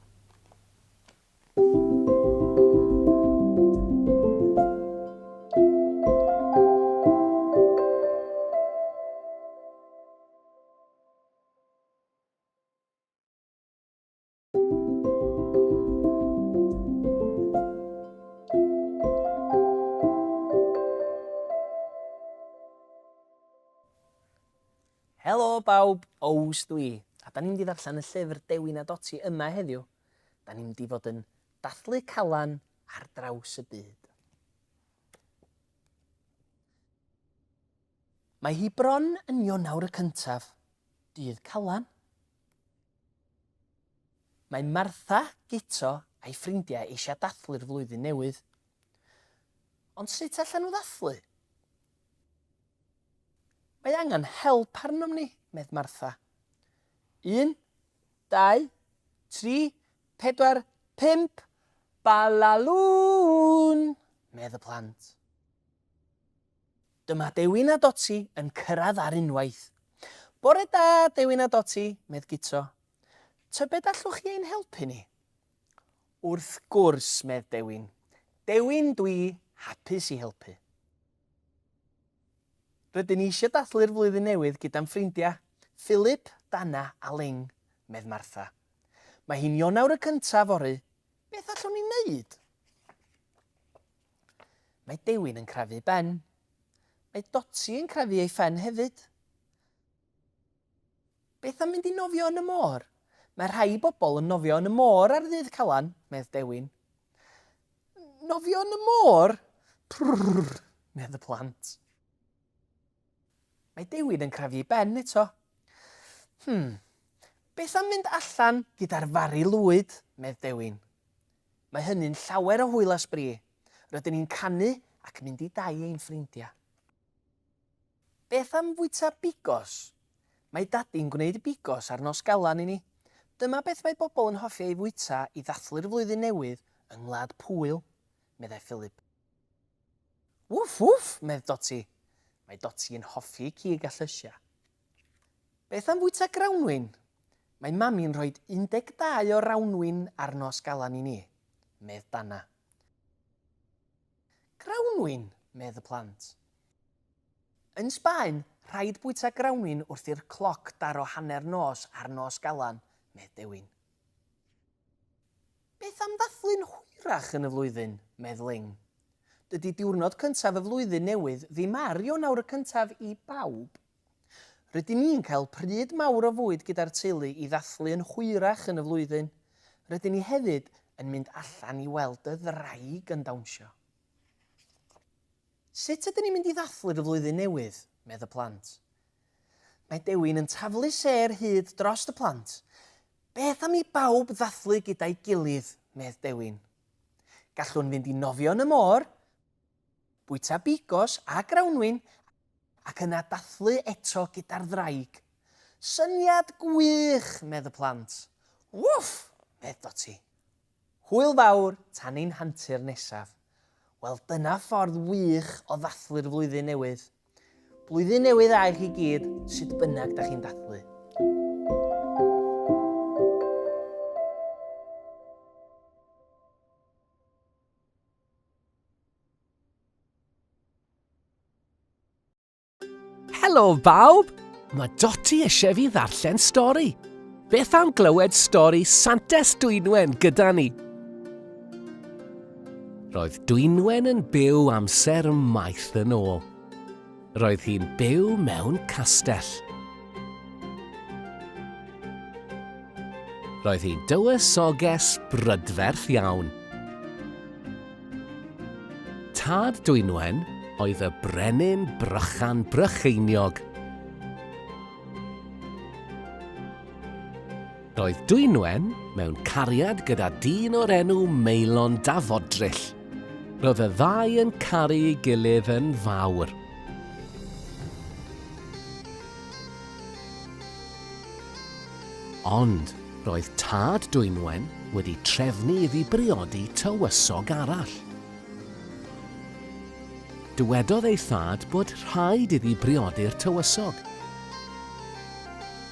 Helo bawb, Ows dwi, a da ni'n mynd i ddarllen y llyfr Dewi na Doti yma heddiw. Da ni'n mynd i fod yn dathlu calan ar draws y byd. Mae hi bron yn Ionawr y cyntaf, dydd Calan, Mae Martha, Guto a'i ffrindiau eisiau dathlu'r flwyddyn newydd. Ond sut allan nhw ddathlu? Mae angen help arnom ni, medd Martha. Un, dau, tri, pedwar, pump, balalŵn! medd y plant. Dyma Dewin a Doti yn cyrraedd ar unwaith. Bore da, Dewin a Doti, medd Guto. Tybed allwch chi ein helpu ni? Wrth gwrs, medd Dewin. Dewin, dwi hapus i helpu. Rydyn ni eisiau dathlu'r flwyddyn newydd gyda'n ffrindiau, Philip, Dana a Ling, medd Martha. Mae hi'n Ionawr y cyntaf fory, beth allwn ni wneud? Mae Dewin yn crafu Ben. Mae Dotty yn crafu ei phen hefyd. Beth am mynd i nofio yn y môr? Mae rhai bobl yn nofio yn y môr ar ddydd Calan, medd Dewin. Nofio yn y môr? Prrrr, medd y plant. Mae Dewin yn crafu ei ben eto. Hmm, beth am mynd allan gyda'r fari lwyd, medd Dewin. Mae hynny'n llawer o hwyl a sbri. Rydyn ni'n canu ac mynd i dai ein ffrindiau. Beth am fwyta bigos? Mae Dadi'n gwneud bigos ar Nos Galan i ni. Dyma beth mae bobl yn hoffi ei fwyta i ddathlu'r flwyddyn newydd yng Ngwlad Pwyl, meddai Philip. Wff wff! medd Doti. Mae Doti yn hoffi cig a llysiau. Beth am fwyta grawnwin? Mae Mami'n rhoi 12 o rawnwin ar nos Galan i ni, medd Dana. Grawnwin! medd y plant. Yn Sbaen, rhaid bwyta grawnwin wrth i'r cloc daro hanner nos ar nos Galan, medd Dewin. Beth am ddathlu'n hwyrach yn y flwyddyn? medd Ling. Dydy diwrnod cyntaf y flwyddyn newydd ddim ar Ionawr y cyntaf i bawb. Rydyn ni'n cael pryd mawr o fwyd gyda'r teulu i ddathlu yn hwyrach yn y flwyddyn. Rydyn ni hefyd yn mynd allan i weld y ddraig yn dawnsio. Sut ydyn ni'n mynd i ddathlu'r y flwyddyn newydd? medd y plant. Mae Dewin yn taflu sêr hud drost y plant. Beth am i bawb ddathlu gyda'i gilydd? medd Dewin. Gallwn fynd i nofio yn y môr, bwyta bigos a grawnwin ac yna dathlu eto gyda'r ddraig. Syniad gwych, medd y plant. Wwff! medd Dotty. Hwyl fawr tan ein hantur nesaf. Wel, dyna ffordd wych o ddathlu'r flwyddyn newydd. Blwyddyn newydd da i chi gyd, sut bynnag da chi'n dathlu. Helo bawb! Mae Doti eisiau fi ddarllen stori. Beth am glywed stori Santes Dwynwen gyda ni? Roedd Dwynwen yn byw amser maith yn ôl. Roedd hi'n byw mewn castell. Roedd hi'n dywysoges brydferth iawn. Tad Dwynwen oedd y brenin Brychan Brycheiniog. Roedd Dwynwen mewn cariad gyda dyn o'r enw Maelon Dafodryll. Roedd y ddau yn caru ei gilydd yn fawr. Ond roedd tad Dwynwen wedi trefnu iddi briodi tywysog arall. Dywedodd ei thad bod rhaid iddi briodi'r tywysog.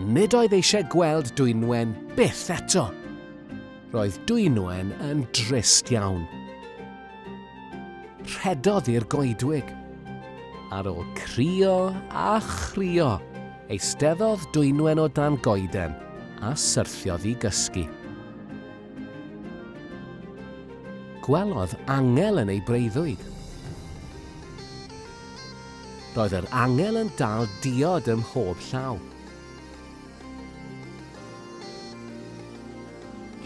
Nid oedd eisiau gweld Dwynwen byth eto. Roedd Dwynwen yn drist iawn. Rhedodd i'r goedwig. Ar ôl crio a chrio, eisteddodd Dwynwen o dan goeden a syrthiodd i gysgu. Gwelodd angel yn ei breuddwyd. Roedd yr angel yn dal diod ym mhob llaw.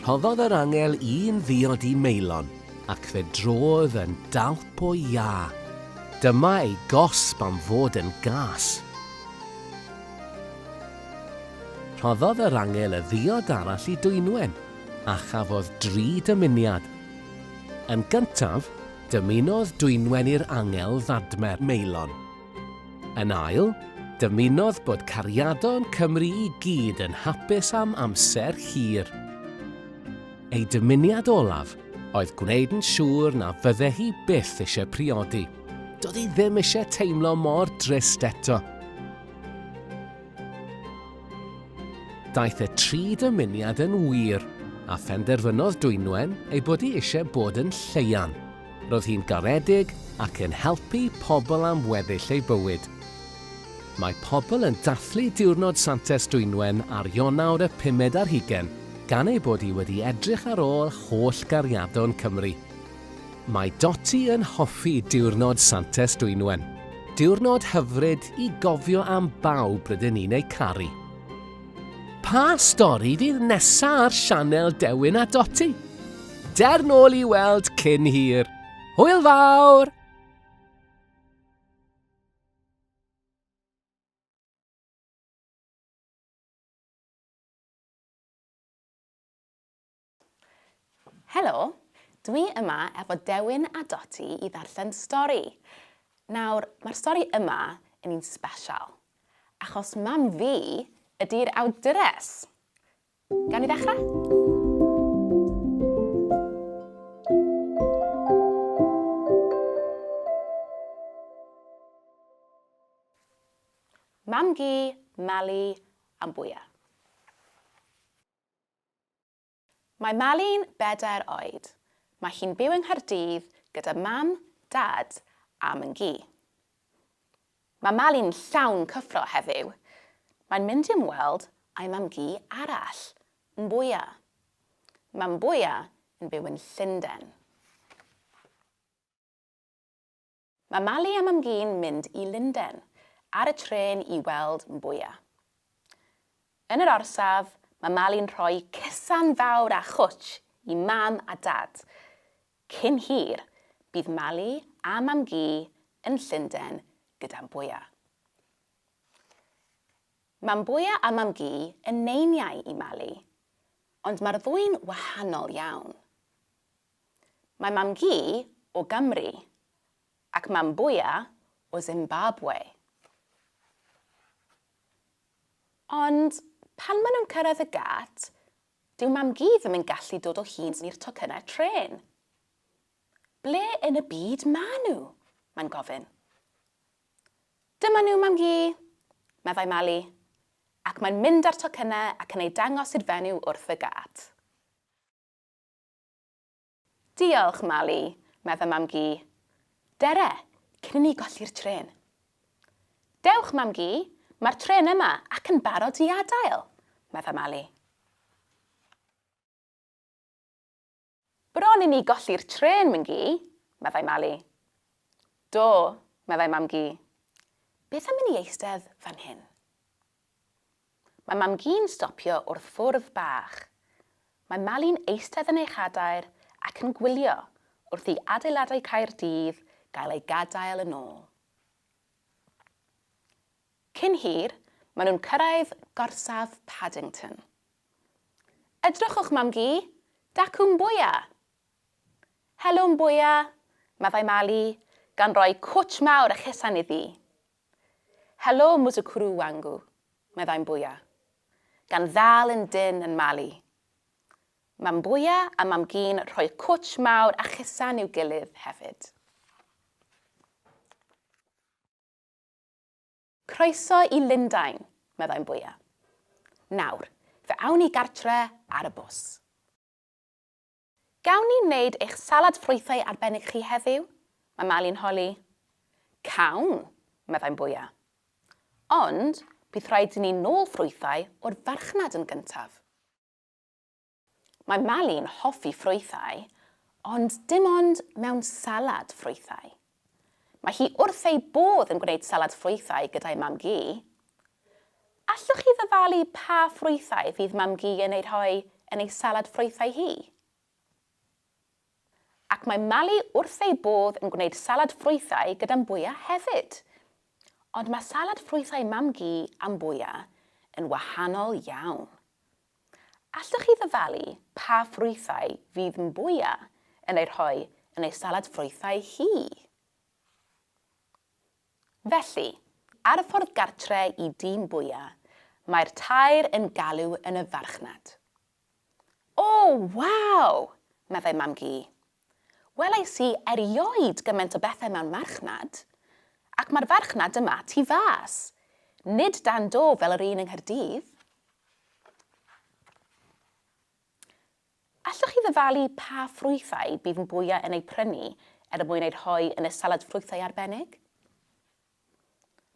Rhoddodd yr angel un ddiod i Maelon, ac fe drodd yn dalp o iâ. Dyma ei gosb am fod yn gas. Rhoddodd yr angel y ddiod arall i Dwynwen, a chafodd dri dymuniad. Yn gyntaf, dymunodd dwynwen i'r angel ddadmer Meilon. Yn ail, dymunodd bod cariadon Cymru i gyd yn hapus am amser hir. Ei dymuniad olaf oedd gwneud yn siŵr na fydde hi byth eisiau priodi. Doedd hi ddim eisiau teimlo mor drist eto. Daeth y tri dymuniad yn wir, a phenderfynodd Dwynwen ei bod hi eisiau bod yn Lleuan. Roedd hi'n garedig ac yn helpu pobl am weddill ei bywyd. Mae pobl yn dathlu Diwrnod Santes Dwynwen ar Ionawr y pumed ar hugain, gan ei bod hi wedi edrych ar ôl holl gariadon Cymru. Mae Dotty yn hoffi diwrnod Santes Dwynwen. Diwrnod hyfryd i gofio am bawb rydyn ni'n eu caru. Pa stori fydd nesa ar sianel Dewin a Dotty? Der nôl i weld cyn hir. Hwyl fawr! Helo, dwi yma efo Dewin a Doti i ddarllen stori. Nawr, mae'r stori yma yn un sbesial, achos mam fi ydy'r awdures. Gawn ni ddechrau? Mam-gu, Mali, am bwya. Mae Mali'n bedair oed. Mae hi'n byw yng Nghaerdydd gyda mam, dad a myn-gu. Mae Mali'n llawn cyffro heddiw. Mae'n mynd i ymweld â'i mam-gu arall, Mbwya. Mae Mbwya yn byw yn Llundain. Mae Mali a Mam-gu'n mynd i Lunden ar y trên i weld Mbuya. Yn yr orsaf, mae Mali'n rhoi cysan fawr a chwtsh i Mam a Dad. Cyn hir, bydd Mali a Mam-gu yn Llunden gyda Mbuya. Mae Mbuya a Mam-gu yn neiniau i Mali, ond mae'r ddwy'n wahanol iawn. Mae mam-gu o Gymru ac mam-bwya o Zimbabwe. Ond pan maen nhw'n cyrraedd y gât, dyw mam-gu ddim yn gallu dod o hyd i'r tocynnau trên. Ble yn y byd maen nhw? mae'n gofyn. Dyma nhw, mam-gu, meddai Mali, ac mae'n mynd â'r tocynnau ac yn eu dangos i'r fenyw wrth y gât. Diolch, Mali, meddai Mam-gu. Dere, cyn i ni golli'r trên. Dewch, Mam-gu, mae'r trên yma ac yn barod i adael, meddai Mali. Bron i ni golli'r trên, Myn-gu, meddai Mali. Do, meddai Mam-gu. Beth am i ni eistedd fan hyn? Mae Mam-gu'n stopio wrth fwrdd bach. Mae Mali'n eistedd yn ei chadair ac yn gwylio wrth i adeiladau Caerdydd gael eu gadael yn ôl. Cyn hir, maen nhw'n cyrraedd gorsaf Paddington. Edrychwch, Mam-gu! Dacw'n bwya! Helo'n bwya! meddai Mali, gan roi cwtsh mawr a chesan iddi. Helo Muzukuru wangu, meddai Mbuya, gan ddal yn dynn yn Mali. Mae Mbuya a Mam-gu'n rhoi cwtsh mawr a chusan i'w gilydd hefyd. Croeso i Lundain, meddai Mbuya. Nawr, fe awn ni gartre ar y bws. Gawn ni wneud eich salad ffrwythau arbennig chi heddiw? mae Mali'n holi. Cawn, meddai'n bwya. Ond bydd rhaid i ni nôl ffrwythau o'r farchnad yn gyntaf. Mae Mali'n hoffi ffrwythau, ond dim ond mewn salad ffrwythau. Mae hi wrth ei bodd yn gwneud salad ffrwythau gyda'i mam-gu. Allwch chi ddyfalu pa ffrwythau fydd mam-gu yn eu rhoi yn ei salad ffrwythau hi? Ac mae Mali wrth ei bodd yn gwneud salad ffrwythau gyda'n bwya hefyd. Ond mae salad ffrwythau mam-gu a'n bwya yn wahanol iawn. Allwch chi ddyfalu pa ffrwythau fydd Mbuya yn eu rhoi yn ei salad ffrwythau hi? Felly, ar y ffordd gartre i dŷ Mbuya, mae'r tair yn galw yn y farchnad. O, waw! meddai Mam-gu. Welais i erioed gymaint o bethau mewn marchnad. Ac mae'r farchnad yma tu fas. Nid dan do fel yr un yng Nghaerdydd. Allwch chi ddyfalu pa ffrwythau bydd Mbuya yn eu prynu er mwyn eu rhoi yn y salad ffrwythau arbennig?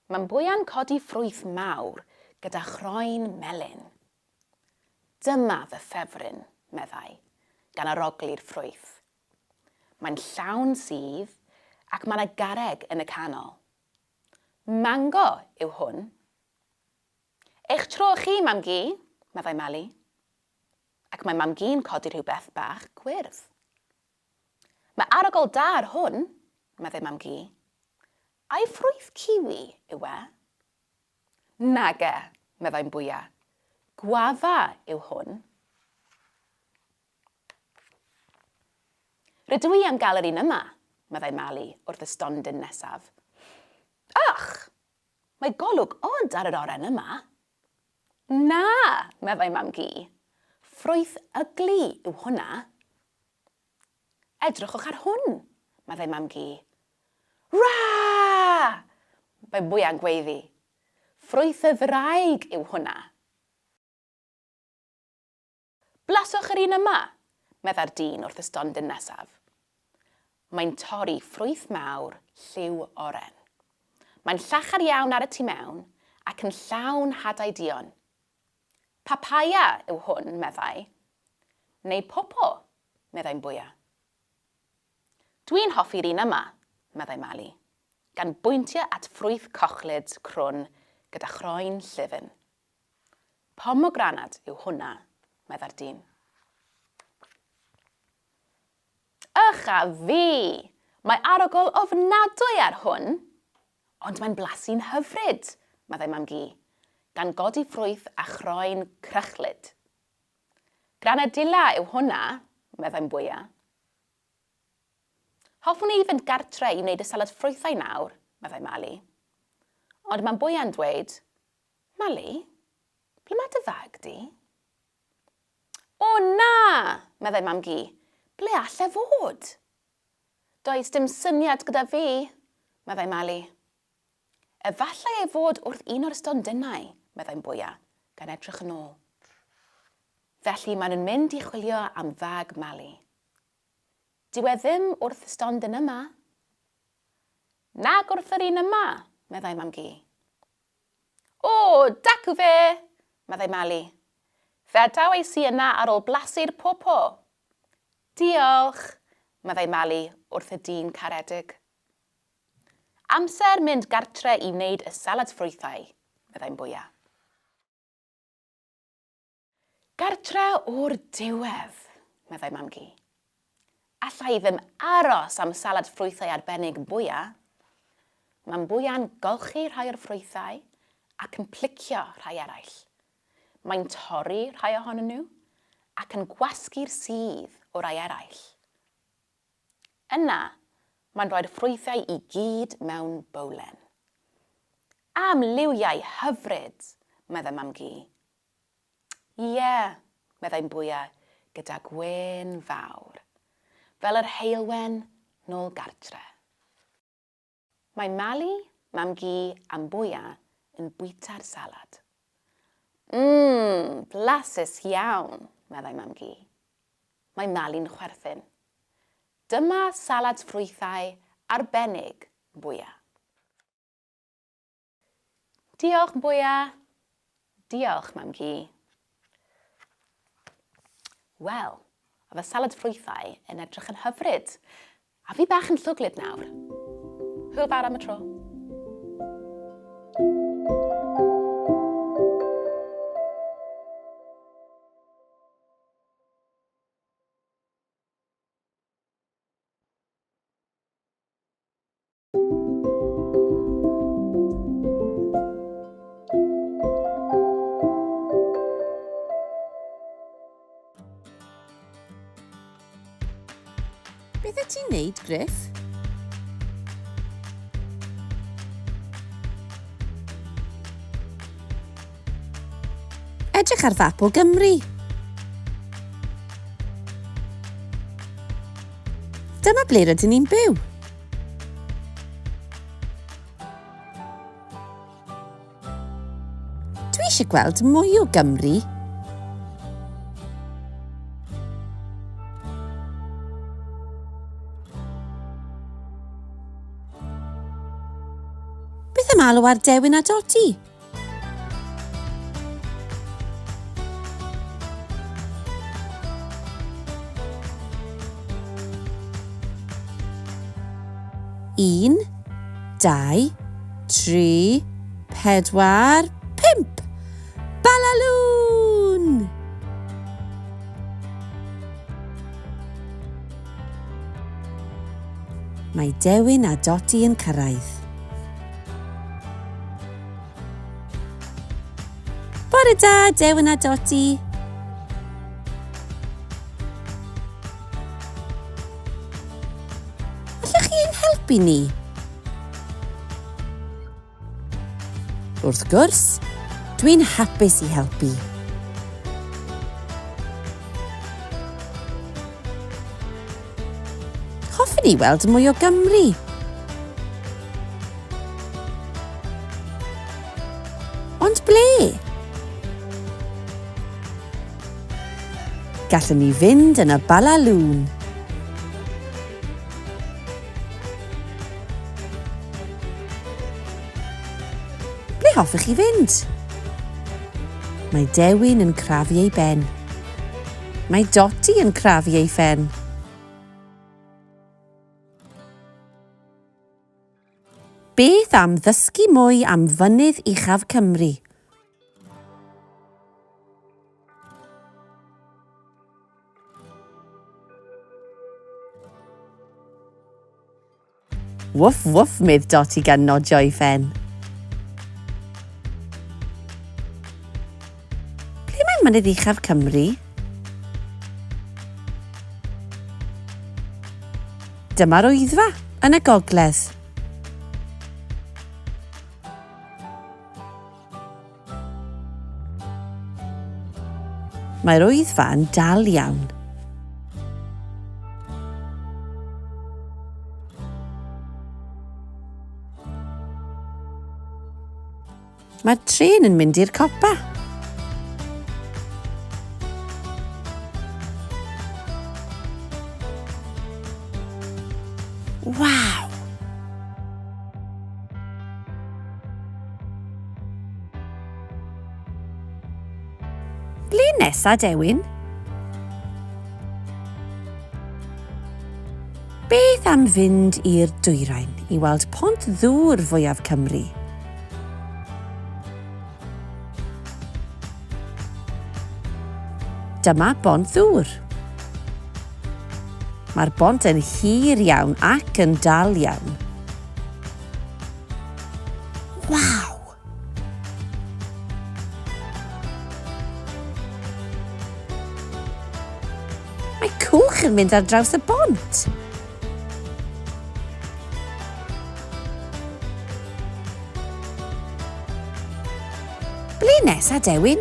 Mae Mbuya'n codi ffrwyth mawr gyda chroen melyn. Dyma fy ffefryn, meddai, gan aroglu'r ffrwyth. Mae'n llawn sudd ac mae 'na garreg yn y canol. Mango yw hwn. Eich tro chi, Mam-gu, meddai Meli. Ac mae Mam-gu'n codi rhywbeth bach gwyrdd. Mae arogl da ar hwn, meddai Mam-gu. Ai ffrwyth ciwi yw e? Nage, meddai'n bwya. Gwafa yw hwn. Rydw i am gael yr un yma, meddai Mali wrth y stondin nesaf. Ych! Mae golwg od ar yr oren yma. Na, meddai Mam-gu. Ffrwyth ygli yw hwnna. Edrychwch ar hwn! meddai Mam-gu. Rah! mae Mwya'nn gweiddi. Ffrwyth y ddraig yw hwnna! Blaswch yr un yma! meddai'r dyn wrth y stondin nesaf. Mae'n torri ffrwyth mawr lliw oren. Mae'n llachar iawn ar y tu mewn ac yn llawn hadau duon. Papaia yw hwn, meddai. Neu popo, meddai'n bwya. Dwi'n hoffi'r un yma, meddai Mali, gan bwyntio at ffrwyth cochlyd crwn gyda chroen llyfn. Pomogranad yw hwnna, meddai'r dyn. Ych a fi! Mae arogl ofnadwy ar hwn! Ond mae'n blasu'n hyfryd! meddai Mam-gu, gan godi ffrwyth a chroen crychlyd. Granadilla yw hwnna, meddai Mbwya. Hoffwn i fynd gartre i wneud y salad ffrwythau nawr, meddai Mali. Ond mae Mbwya'n dweud, Mali, ble mae dy fag di? O na! meddai Mam-gu, ble all e fod? Does dim syniad gyda fi, meddai Mali. Efallai ei fod wrth un o'r stondinau, meddai'n bwya, gan edrych yn ôl. Felly maen nhw'n mynd i chwilio am fag Mali. Dyw e ddim wrth y stondin yma. Nag wrth yr un yma, meddai mam gi. O, dacw fe, meddai Mali. Fe adaw ei si yna ar ôl blasu'r popo, Diolch! meddai Mali wrth y dyn caredig. Amser mynd gartre i wneud y salad ffrwythau, meddai'n bwya. Gartre o'r diwedd, meddai Mam-gu. Alla i ddim aros am salad ffrwythau arbennig, bwya. Mae'n bwya'n golchi rhai o'r ffrwythau ac yn plicio rhai eraill, Mae'n torri rhai ohonyn nhw ac yn gwasgu'r sudd o rai eraill. Yna, mae'n rhoi'r ffrwythau i gyd mewn bowlen. Am liwiau hyfryd! meddai Mam-gu. Ie, meddai'n bwya gyda gwên fawr, fel yr heulwen nôl gartre. Mae Mali, Mam-gu a Mbuya yn bwyta'r salad. Mmm, blasus iawn, meddai Mam-gu. Mae Mali'n chwerthin. Dyma salad ffrwythau arbennig, Mbuya. Diolch bwya! Diolch, Mam Gi. Wel, a fy salad ffrwythau yn edrych yn hyfryd. A fi bach yn llwglyd nawr. Hwyl fawr am y tro. Beth y ti'n neud, Griff? Edrych ar fap o Gymru. Dyma ble rydyn ni'n byw. Dwi eisiau gweld mwy o Gymru. Beth am alw ar Dewin a Dodi? Un, dau, tri, pedwar, pump! Balalŵn! Mae Dewin a Doti yn cyrraedd. Bore da, Dewin a Dodi. Allwch chi ein helpu ni? Wrth gwrs, dwi'n hapus i helpu. Hoffen ni weld mwy o Gymru! Ond ble? Gallwn ni fynd yn y balalŵn. Ble hoffech chi fynd? Mae Dewin yn crafu ei ben. Mae Dotty yn crafu ei phen. Beth am ddysgu mwy am Fynydd Uchaf Cymru? Wwff wwff medd Dotty gan nodio ei phen. Ble mae mynydd uchaf Cymru? Dyma'r Wyddfa, yn y gogledd. Mae'r Wyddfa yn dal iawn. Mae'r tren yn mynd i'r copa. Waw! Ble nesa, Dewin? Beth am fynd i'r dwyrain i weld pont ddŵr fwyaf Cymru? Dyma bont ddŵr. Mae'r bont yn hir iawn ac yn dal iawn. Waw! Mae cwch yn mynd ar draws y bont! Ble nesa, Dewin?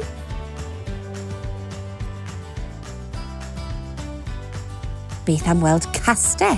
Beth am weld castell?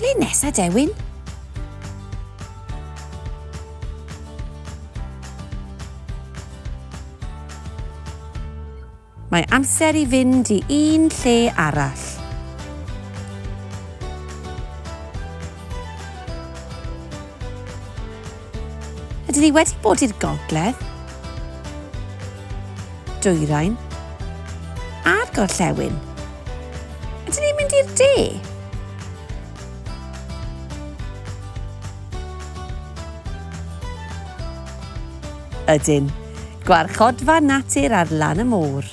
Ble nesa Dewin? Mae amser i fynd i un lle arall. Ydy ni wedi bod i'r gogledd, dwyrain, a'r gorllewin? Ydy ni'n mynd i'r de? Ydyn. Gwarchodfa natur ar lan y môr.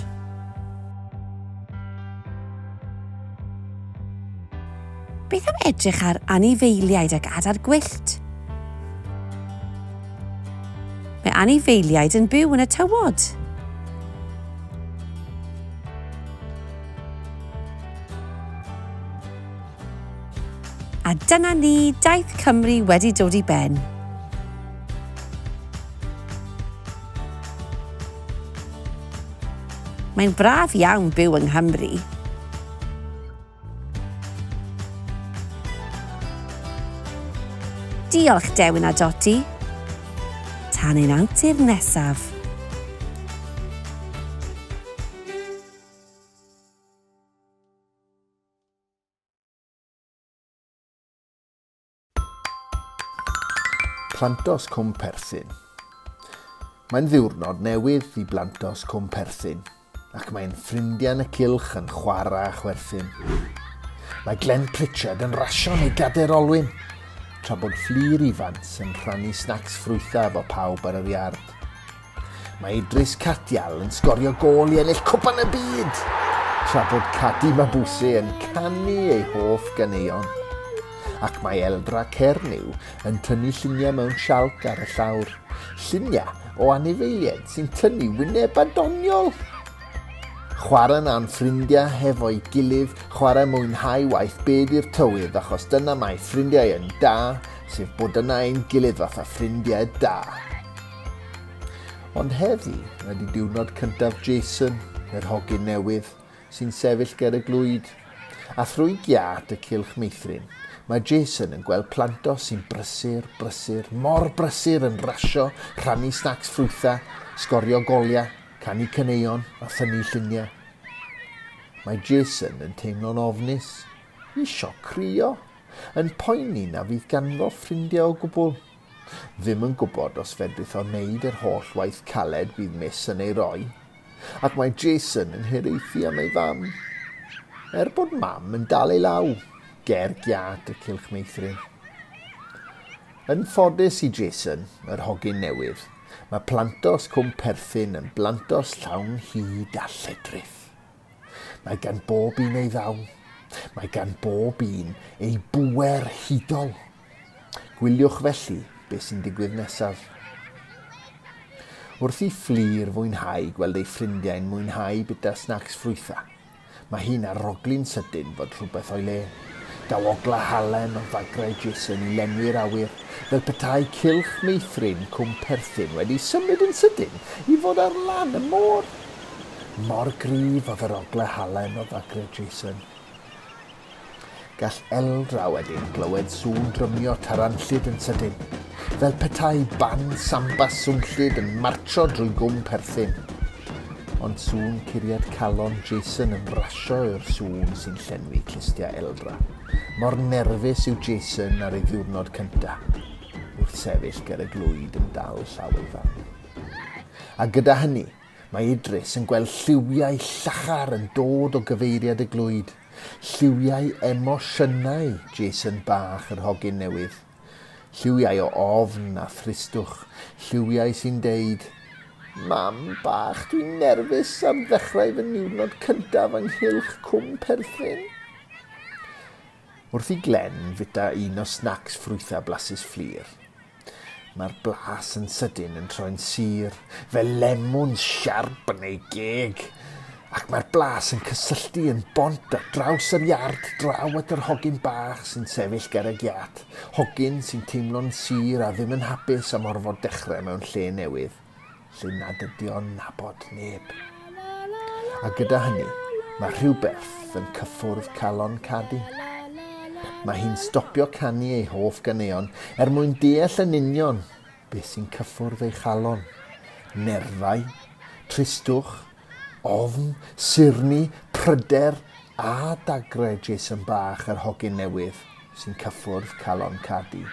Beth am edrych ar anifeiliaid ac adar gwyllt? Mae anifeiliaid yn byw yn y tywod. A dyna ni, daith Cymru wedi dod i ben. Mae'n braf iawn byw yng Nghymru. Diolch Dewin a Doti. Tan ein antur nesaf. Plantos Cwm Perthyn Mae'n ddiwrnod newydd i Blantos Cwm Perthyn ac mae'n ffrindiau yn y cylch yn chwarae a chwerthin. Mae Glenn Pritchard yn rasio neu gader olwyn, tra bod Fflir Ifans yn rhannu snacs ffrwythau efo pawb ar yr iard. Mae Idris Cardial yn sgorio gôl i ennill Cwpan y Byd, tra bod Kadi Mabuse yn canu ei hoff ganeuon. Ac mae Eldra Cernyw yn tynnu lluniau mewn sialc ar y llawr, lluniau o anifeiliaid sy'n tynnu wynebau doniol! Chwarae na yn ffrindiau hefo'i gilydd, chwarae mwynhau waith byd i'r tywydd achos dyna mae ffrindiau yn da, sef bod yna ein gilydd fatha ffrindiau da. Ond heddi ydy diwrnod cyntaf Jason, yr hogyn newydd, sy'n sefyll ger y glwyd. A thrwy giât y cylch meithrin, mae Jason yn gweld planto sy'n brysur, brysur, mor brysur yn rasio, rhannu snacs ffrwytha, sgorio goliau, canu caneuon a thynnu lluniau. Mae Jason yn teimlo'n ofnus, isio crio, yn poeni na fydd ganddo ffrindiau o gwbl. ddim yn gwybod os fedrith o wneud yr holl waith caled bydd Miss yn ei roi, ac mae Jason yn hiraethu am ei fam. Er bod mam yn dal ei law, ger giât y cylch meithrin. Yn ffodus i Jason, yr hogyn newydd, mae plantos cwm perthyn yn blantos llawn hyd a lledrith. Mae gan bob un ei ddaw. Mae gan bob un ei bwer hudol. Gwyliwch felly beth sy'n digwydd nesaf. Wrth i Fflur fwynhau gweld ei ffrindiau'n mwynhau bita snacs ffrwytha, mae hi'n arogli'n sydyn fod rhywbeth o'i le. Daw ogla halen o fagrau Jason i lenwi'r awyr, fel petai cylch meithrin Cwm Perthyn wedi symud yn sydyn i fod ar lan y môr. Mor gryf oedd yr ogla halen o fagrau Jason. Gall Eldra wedyn glywed sŵn drymio taranllyd yn sydyn, fel petai band samba swnllyd yn martsio drwy gwm perthyn. Ond sŵn curiad calon Jason yn brasio yw'r sŵn sy'n llenwi clustiau Eldra. Mor nerfus yw Jason ar ei ddiwrnod cynta, wrth sefyll ger y glwyd yn dal llaw ei fam. A gyda hynny, mae Idris yn gweld lliwiau llachar yn dod o gyfeiriad y glwyd. Lliwiau emosiynau Jason bach yr hogyn newydd. Lliwiau o ofn a thristwch. Lliwiau sy'n deud, Mam bach, dwi'n nerfus ar ddechrau fy niwrnod cyntaf ynghylch Cwm Perthyn. Wrth i Glenn fita un o snacs ffrwythau blasus Fflur. Mae'r blas yn sydyn yn troi'n sur, fel lemwn siarp yn ei geg, ac mae'r blas yn cysylltu yn bont ar draws yr iard draw at yr hogyn bach sy'n sefyll ger y giât, hogyn sy'n teimlo'n sur a ddim yn hapus am orfod dechrau mewn lle newydd. lle nad ydy o'n nabod neb. A gyda hynny, mae rhywbeth yn cyffwrdd calon Cadi. Mae hi'n stopio canu ei hoff ganeuon er mwyn deall yn union beth sy'n cyffwrdd ei chalon. Nerfau, tristwch, ofn, surni, pryder a dagrau Jason Bach yr hogyn newydd sy'n cyffwrdd calon Cadi.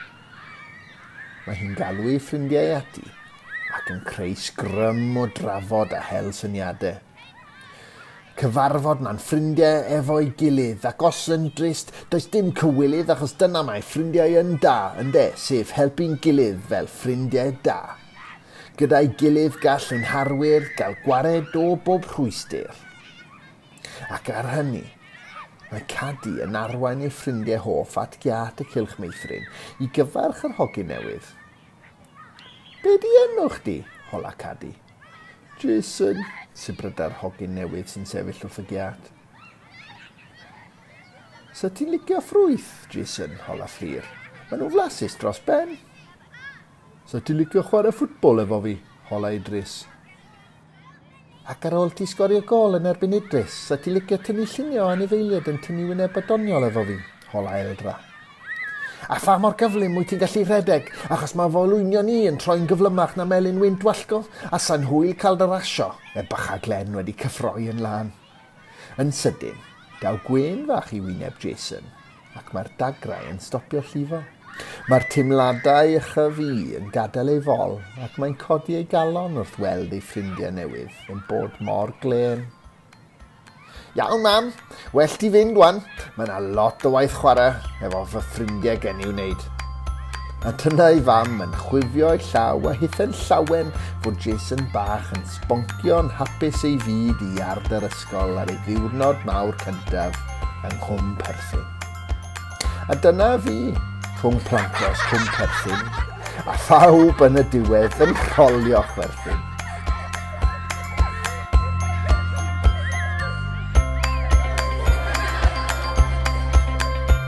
Mae hi'n galw ei ffrindiau ati ac yn creu sgrym o drafod a hel syniadau. Cyfarfod mae'n ffrindiau efo'i gilydd ac os yn drist, does dim cywilydd achos dyna mae ffrindiau yn da, ynde, sef helpu'n gilydd fel ffrindiau da. Gyda'i gilydd gall ein harwyr gael gwared o bob rhwystr. Ac ar hynny, mae Cadi yn arwain ei ffrindiau hoff at giât y Cylch Meithrin i gyfarch yr hogyn newydd. Be di enw chdi? hola Cadi. Jason, sibryda'r hogyn newydd sy'n sefyll wrth y giât. Sa ti'n licio ffrwyth, Jason, hola Fflur. Maen nhw'n flasus dros ben. 'Sa ti'n licio chwarae ffwtbol efo fi? hola Idris. Ac ar ôl ti sgorio gôl yn erbyn Idris, 'sa ti'n licio tynnu lluniau o anifeiliaid yn tynnu wyneb a doniol efo fi? hola Eldra. A pha mor gyflym wyt ti'n gallu rhedeg, achos mae fy olwynion i yn troi'n gyflymach na melin wynt wallgof, a sa'n hwyl cael dy rasio, er bach a Glenn wedi cyffroi yn lân. Yn sydyn, daw gwên fach i wyneb Jason, ac mae'r dagrau yn stopio llifo. Mae'r teimladau ychyf i yn gadael ei fol, ac mae'n codi ei galon wrth weld ei ffrindiau newydd yn bod mor glên. Iawn, mam. Well ti fynd wan. Mae yna lot o waith chwarae efo fy ffrindiau gen i'w wneud. A dyna ei fam yn chwifio ei llaw a hithen llawen fod Jason bach yn Sboncio'n hapus ei fyd i iard yr ysgol ar ei ddiwrnod mawr cyntaf yng Nghwm Perthyn. A dyna fi, rhwng Plancos, Cwm Perthyn, a phawb yn y diwedd yn rholio chwerthin.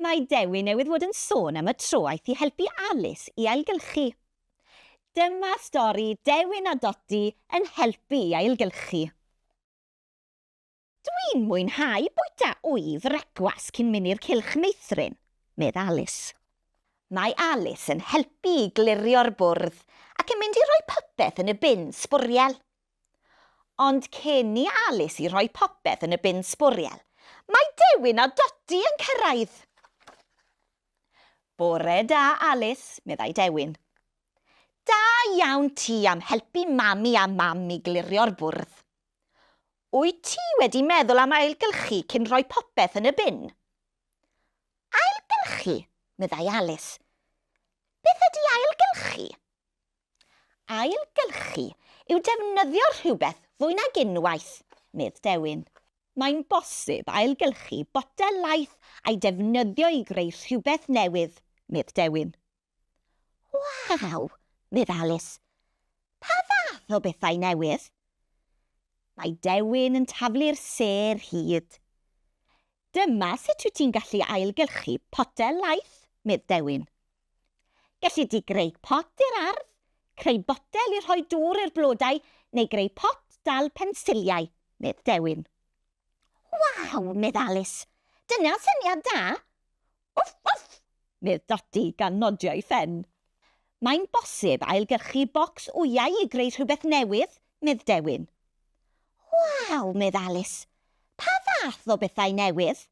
Mae Dewi newydd fod yn sôn am y tro aeth i helpu Alice i ailgylchu. Dyma stori Dewin a Dodi yn helpu i ailgylchu. Dwi'n mwynhau bwyta wy frecwas cyn mynd i'r cylch meithrin, medd Alice. Mae Alice yn helpu i glirio'r bwrdd ac yn mynd i roi popeth yn y bin sbwriel. Ond cyn i Alice i rhoi popeth yn y bin sbwriel, mae Dewin a Dodi yn cyrraedd! Bore da, Alice, meddai Dewin. Da iawn ti am helpu Mami a Mam i glirio'r bwrdd. Wyt ti wedi meddwl am ailgylchu cyn rhoi popeth yn y bin? Ailgylchu? meddai Alice. Beth ydy ailgylchu? Ailgylchu yw defnyddio rhywbeth fwy nag unwaith, medd Dewin. Mae'n bosib ailgylchu botel laeth a'i defnyddio i greu rhywbeth newydd, medd Dewin. Waw! medd Alis. Pa fath o bethau newydd? Mae Dewin yn taflu'r sêr hud. Dyma sut wyt ti'n gallu ailgylchu potel laeth, medd Dewin. Gelli di greu pot i'r ardd, creu botel i rhoi dŵr i'r blodau neu greu pot dal pensiliau, medd Dewin. Waw! medd Alis. Dyna'n syniad da! Wff, wff! medd Dodi gan nodio ei phen. Mae'n bosib ailgyrchu bocs wyau i greu rhywbeth newydd, medd Dewin. Waw! medd Alis. Pa fath o bethau newydd?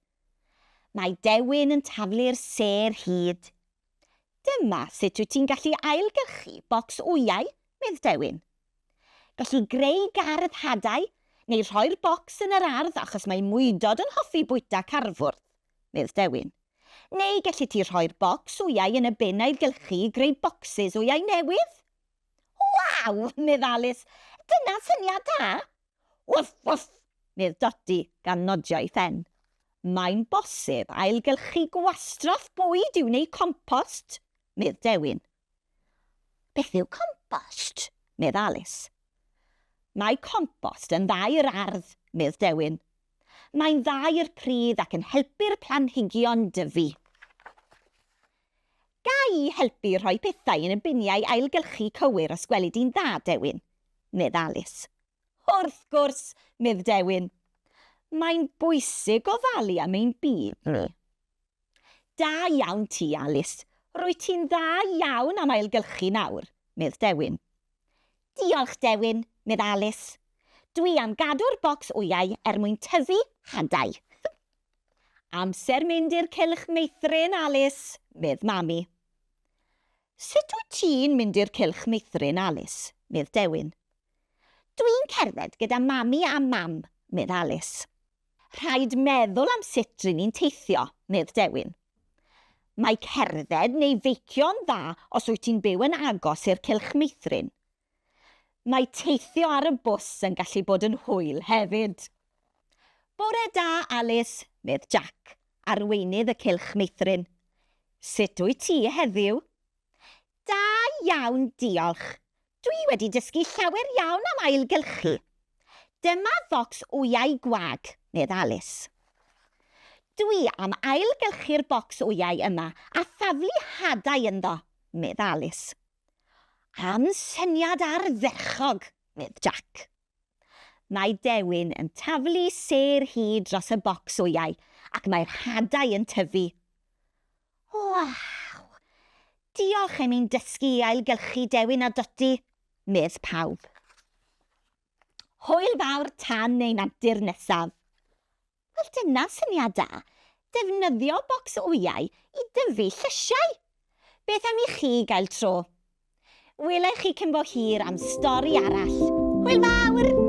Mae dewin yn taflu'r sêr hud. Dyma sut wyt ti'n gallu ailgylchu bocs wyau, medd Dewin. Gelli greu gardd hadau neu rhoi'r bocs yn yr ardd achos mae mwydod yn hoffi bwyta carfwrdd, medd Dewin. Neu gelli ti rhoi'r bocs wyau yn y bin ailgylchu i greu bocsys wyau newydd. Waw! medd Alis. Dyna syniad da! Woof, woof! medd Dodi gan nodio'i phen. Mae'n bosib ailgylchu gwastraff bwyd i'w wneud compost, medd Dewin. Beth yw compost? medd Alis. Mae compost yn dda i'r ardd, medd Dewin. Mae'n dda i'r pridd ac yn helpu'r planhigion dyfu. Ga i helpu rhoi pethau yn y biniau ailgylchu cywir os gweli di'n dda, Dewin? medd Alis. Wrth gwrs! medd Dewin. Mae'n bwysig ofalu am ein byd ni. Da iawn ti, Alis. Rwyt ti'n dda iawn am ailgylchu nawr, medd Dewin. Diolch, Dewin, medd Alis. Dwi am gadw'r bocs wyau er mwyn tyfu hadau. Amser mynd i'r cylch meithrin, Alis, medd Mami. Sut wyt ti'n mynd i'r cylch meithrin, Alis? medd Dewin. Dwi'n cerdded gyda Mami a Mam, medd Alis. Rhaid meddwl am sut ry'n ni'n teithio, medd Dewin. Mae cerdded neu feicio'n dda os wyt ti'n byw yn agos i'r cylch meithrin, Mae teithio ar y bws yn gallu bod yn hwyl hefyd. Bore da, Alis, medd Jac, arweinydd y Cylch Meithrin. Sut wyt ti heddiw? Da iawn, diolch. Dwi wedi dysgu llawer iawn am ailgylchu. Dyma focs wyau gwag, medd Alis. Dwi am ailgylchu'r bocs wyau yma a thaflu hadau ynddo, medd Alis. Am syniad ardderchog! medd Jac. Mae Dewin yn taflu sêr hi dros y bocs wyau ac mae'r hadau yn tyfu. Waw! Diolch am i'n dysgu i ailgylchu Dewin a Dodi! medd pawb. Hwyl fawr tan ein antur nesaf! Wel dyna syniad da, defnyddio bocs wyau i dyfu llysiau! Beth am i chi gael tro? Wela i chi cyn bo hir am stori arall. Hwyl fawr!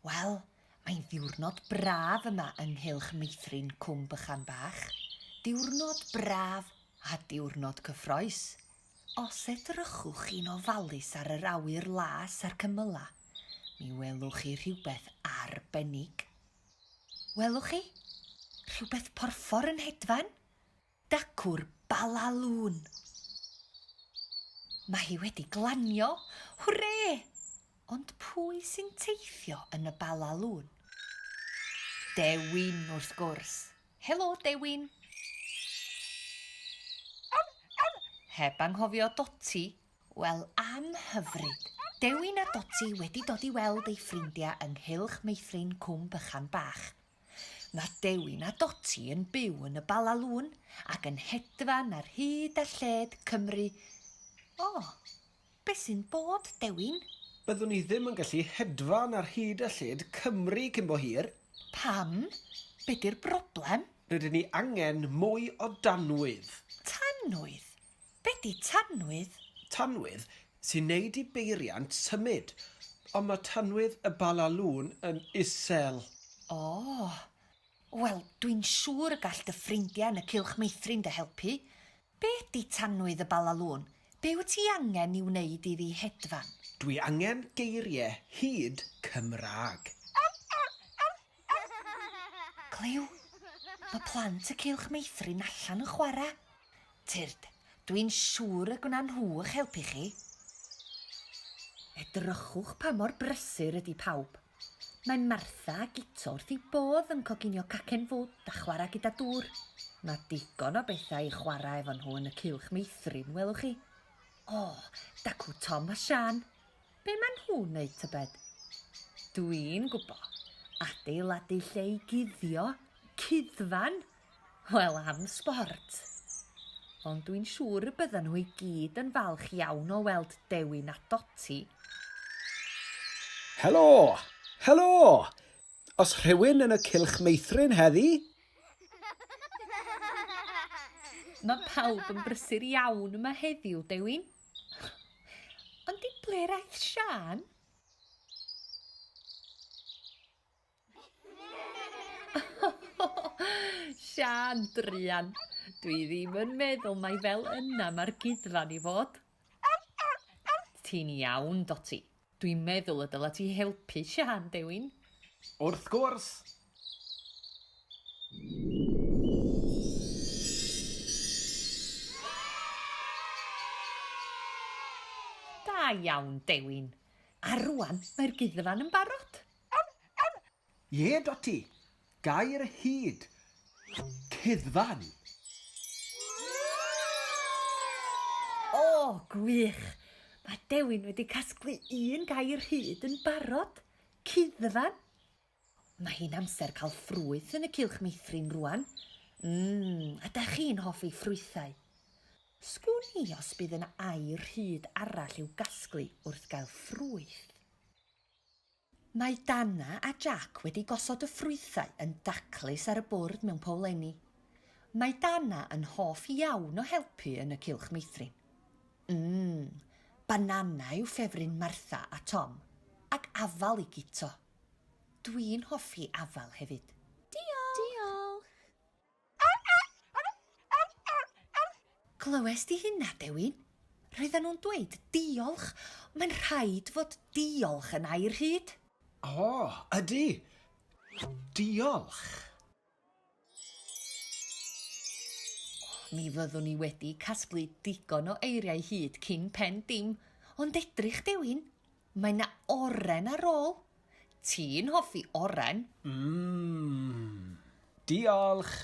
Wel, mae'n ddiwrnod braf yma yng nghylch meithrin Cwm Bychan Bach. Diwrnod braf a diwrnod cyffroes. Os edrychwch chi'n ofalus ar yr awyr las a'r cymylau, mi welwch chi rhywbeth arbennig. Welwch chi? Rhywbeth porffor yn hedfan? Dacw'r Bala Lŵn. Mae hi wedi glanio! Hwre! Ond pwy sy'n teithio yn y Bala Lŵn? Dewin, wrth gwrs. Helo, Dewin. Heb anghofio Doti. Wel, am hyfryd. Dewin a Doti wedi dod i weld eu ffrindiau yng nghylch meithrin Cwm Bychan Bach. Mae Dewin a Doti yn byw yn y Bala Lŵn ac yn hedfan ar hyd a lled Cymru. O, beth sy'n bod, Dewin? Byddwn i ddim yn gallu hedfan ar hyd a lled Cymru cyn bo hir. Pam? Be 'di'r broblem? Rydyn ni angen mwy o danwydd. Tanwydd? Be di tanwydd? Tanwydd sy'n neud i beiriant symud. Ond ma tanwydd y Bala Lôn yn isel. Ohh. Wel, dwi'n siŵr y gall dy ffrindia yn y Cylch Meithrin dy helpu. Be di tanwydd y Bala Lôn? Be wyt ti angen i wneud iddi hedfan? Dwi angen geirie hud Cymraeg. Clyw? Ma plant y Cylch Meithrin allan yn chwara. Tyrd, dwi'n siŵr y gwna nhw 'ych helpu chi. Edrychwch pa mor brysur ydi pawb. Mae Martha a Guto wrth eu bodd yn coginio cacen fwd a chwarae gyda dŵr. Mae digon o bethau i chwarae efo nhw yn y cylch meithrin, welwch chi. O, dacw Tom a Siân. Be maen nhw'n wneud tybed? Dwi'n gwbo. Adeiladu lle i guddio. Cuddfan! Wel am sbort! Ond dwi'n siŵr y byddan nhw i gyd yn falch iawn o weld Dewin a Doti. Helo! Helo! Os rhywun yn y cylch meithrin heddi? Mae pawb yn brysur iawn yma heddiw, Dewin. Ond i ble'r aeth Sian? Sian, druan. Dwi ddim yn meddwl mai fel yna mae'r gudfan i fod. Ti'n iawn, Doti. Dwi'n meddwl y dyla ti helpu Sian, Dewin. Wrth gwrs! Da iawn, Dewin. A rwan mae'r gudfan yn barod. Ie, Dotty. Gair hud. Cuddfan. O, gwych! Mae Dewin wedi casglu un gair hud yn barod. Cuddfan. Mae hi'n amser cael ffrwyth yn y cylch meithrin rwan. Ym, ydach chi'n hoffi ffrwythau? Sgwn i os bydd yna air hud arall i'w gasglu wrth gael ffrwyth. Mae Dana a Jac wedi gosod y ffrwythau yn daclus ar y bwrdd mewn powlenni. Mae Dana yn hoff iawn o helpu yn y cylch meithrin. Mmm, banana yw ffefryn Martha a Tom, ac afal i Guto. Dwi'n hoffi afal hefyd. Diolch! Diolch! Clywes di hynna, Dewin? Roedden nhw'n dweud 'diolch'. Mae'n rhaid fod 'diolch' yn air rhyd. O, ydy. Diolch. Mi fyddwn i wedi casglu digon o eiriau hyd cyn pen dim. Ond edrych, Dewin, Mae 'na oren ar ôl. Ti'n hoffi oren? Mmm. Diolch!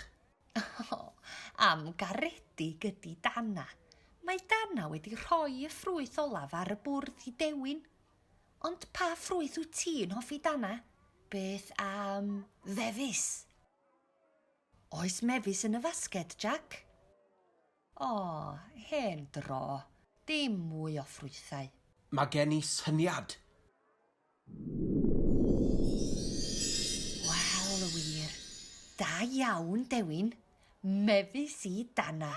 O, am garedig ydi Dana. Mae Dana wedi rhoi y ffrwyth olaf ar y bwrdd i Dewin. Ond pa ffrwyth wyt ti'n hoffi Dana? Beth am fefus? Oes mefus yn y fasged, Jac? O, hen dro. Dim mwy o ffrwythau. Mae gen i syniad! Wel, wir. Da iawn, Dewin. Mefus i danna.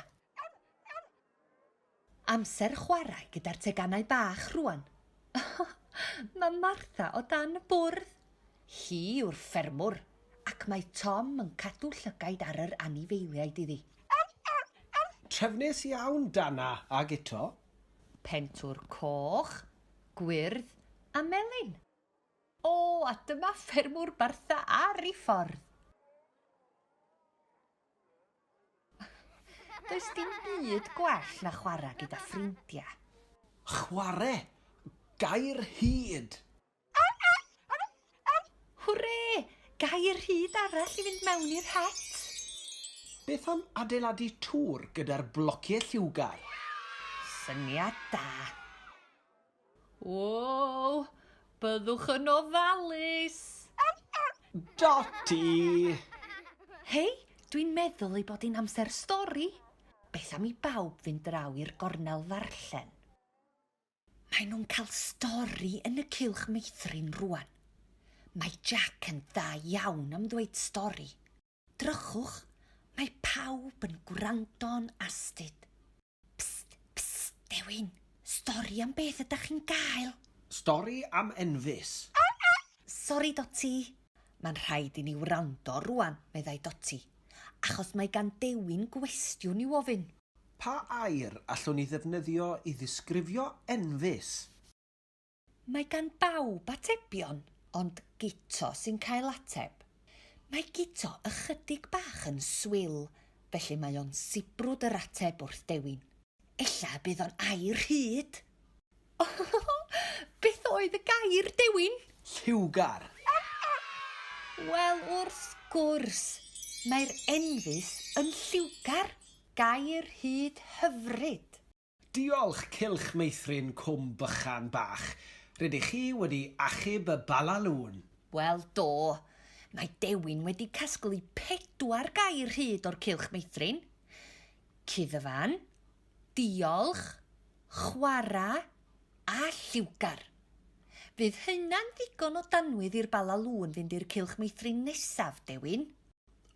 Amser chwarae gyda'r teganau bach rŵan. Mae Martha o dan y bwrdd. Hi yw'r ffermwr, ac mae Tom yn cadw llygaid ar yr anifeiliaid iddi. Trefnus iawn, Dana a Guto. Pentwr coch, gwyrdd a melyn. O, a dyma ffermwr Martha ar ei ffordd! Does dim byd gwell na chwarae gyda ffrindiau. Chwarae! Gair hud! Hwre! Gair hud arall i fynd mewn i'r het! Beth am adeiladu tŵr gyda'r blociau lliwgar? Syniad da! Woow! Byddwch yn ofalus! Dotty! Hei, dwi'n meddwl ei bod hi'n amser stori! Beth am i bawb fynd draw i'r gornel ddarllen? Maen nhw'n cael stori yn y cylch meithrin rwan. Mae Jack yn dda iawn am ddweud stori. Drychwch, mae pawb yn gwrando'n astud. Pst, pst, dewin, stori am beth ydach chi'n gael? Stori am Enfys. Sori, Doti. Mae'n rhaid i ni wrando rwan, meddai Doti, achos mae gan Dewin gwestiwn i'w ofyn. Pa air allwn ni ddefnyddio i ddisgrifio Enfys? Mae gan bawb atebion, ond Guto sy'n cael ateb. Mae Guto ychydig bach yn swil, felly mae o'n sibrwd yr ateb wrth dewin. Ella y bydd o'n air hud! Ohohoho! Beth oedd y gair, Dewin? Lliwgar! Wel, wrth gwrs! Mae'r enfys yn lliwgar! Gair hud hyfryd! Diolch Cylch Meithrin Cwm Bychan Bach, rydych chi wedi achub y Bala Lŵn! Wel, do. Mae Dewin wedi casglu pedwar gair hyd o'r Cylch Meithrin, cuddfan, diolch, chwarae a lliwgar. Fydd hynna'n ddigon o danwydd i'r Bala Lŵn fynd i'r Cylch Meithrin nesaf, Dewin?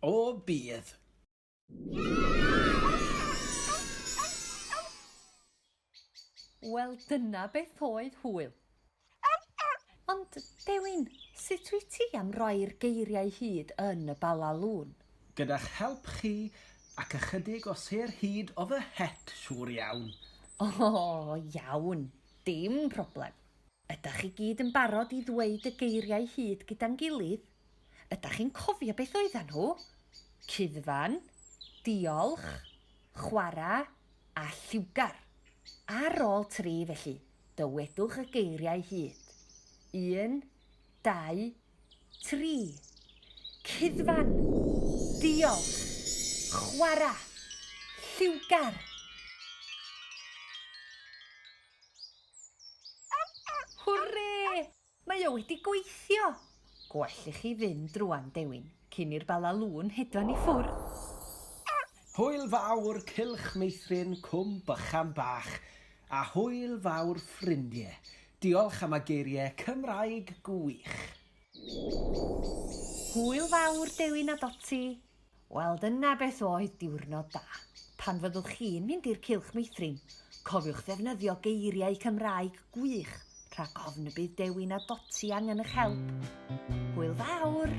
O, bydd. Wel, dyna beth oedd hwyl. Ond, Dewin, sut wyt ti am roi'r geiriau hyd yn y Bala Lŵn? Gyda'ch help chi, ac ychydig o sêr hud o fy het, siŵr iawn. O, iawn. Dim problem. Ydach chi gyd yn barod i ddweud y geiriau hud gyda'n gilydd? Ydach chi'n cofio beth oeddan nhw? Cuddfan, diolch, chwarae, a lliwgar. Ar ôl tri, felly, dywedwch y geiriau hyd. Un, dau, tri. Cuddfan, diolch, chwarae, lliwgar. Hwrê! Mae o wedi gweithio! Gwell i chi fynd rwan, Dewin, cyn i'r Bala Lŵn hedfan i ffwrdd. Hwyl fawr cylch meithrin cwm bychan bach, a hwyl fawr ffrindie. Diolch am y geirie Cymraeg gwych. Hwyl fawr Dewin a Doti, Wel, dyna beth oedd diwrnod da. Pan fyddwch chi'n mynd i'r Cylch Meithrin, cofiwch ddefnyddio geiriau Cymraeg gwych rhag ofn y bydd Dewi na Doti angen eich help. Hwyl fawr!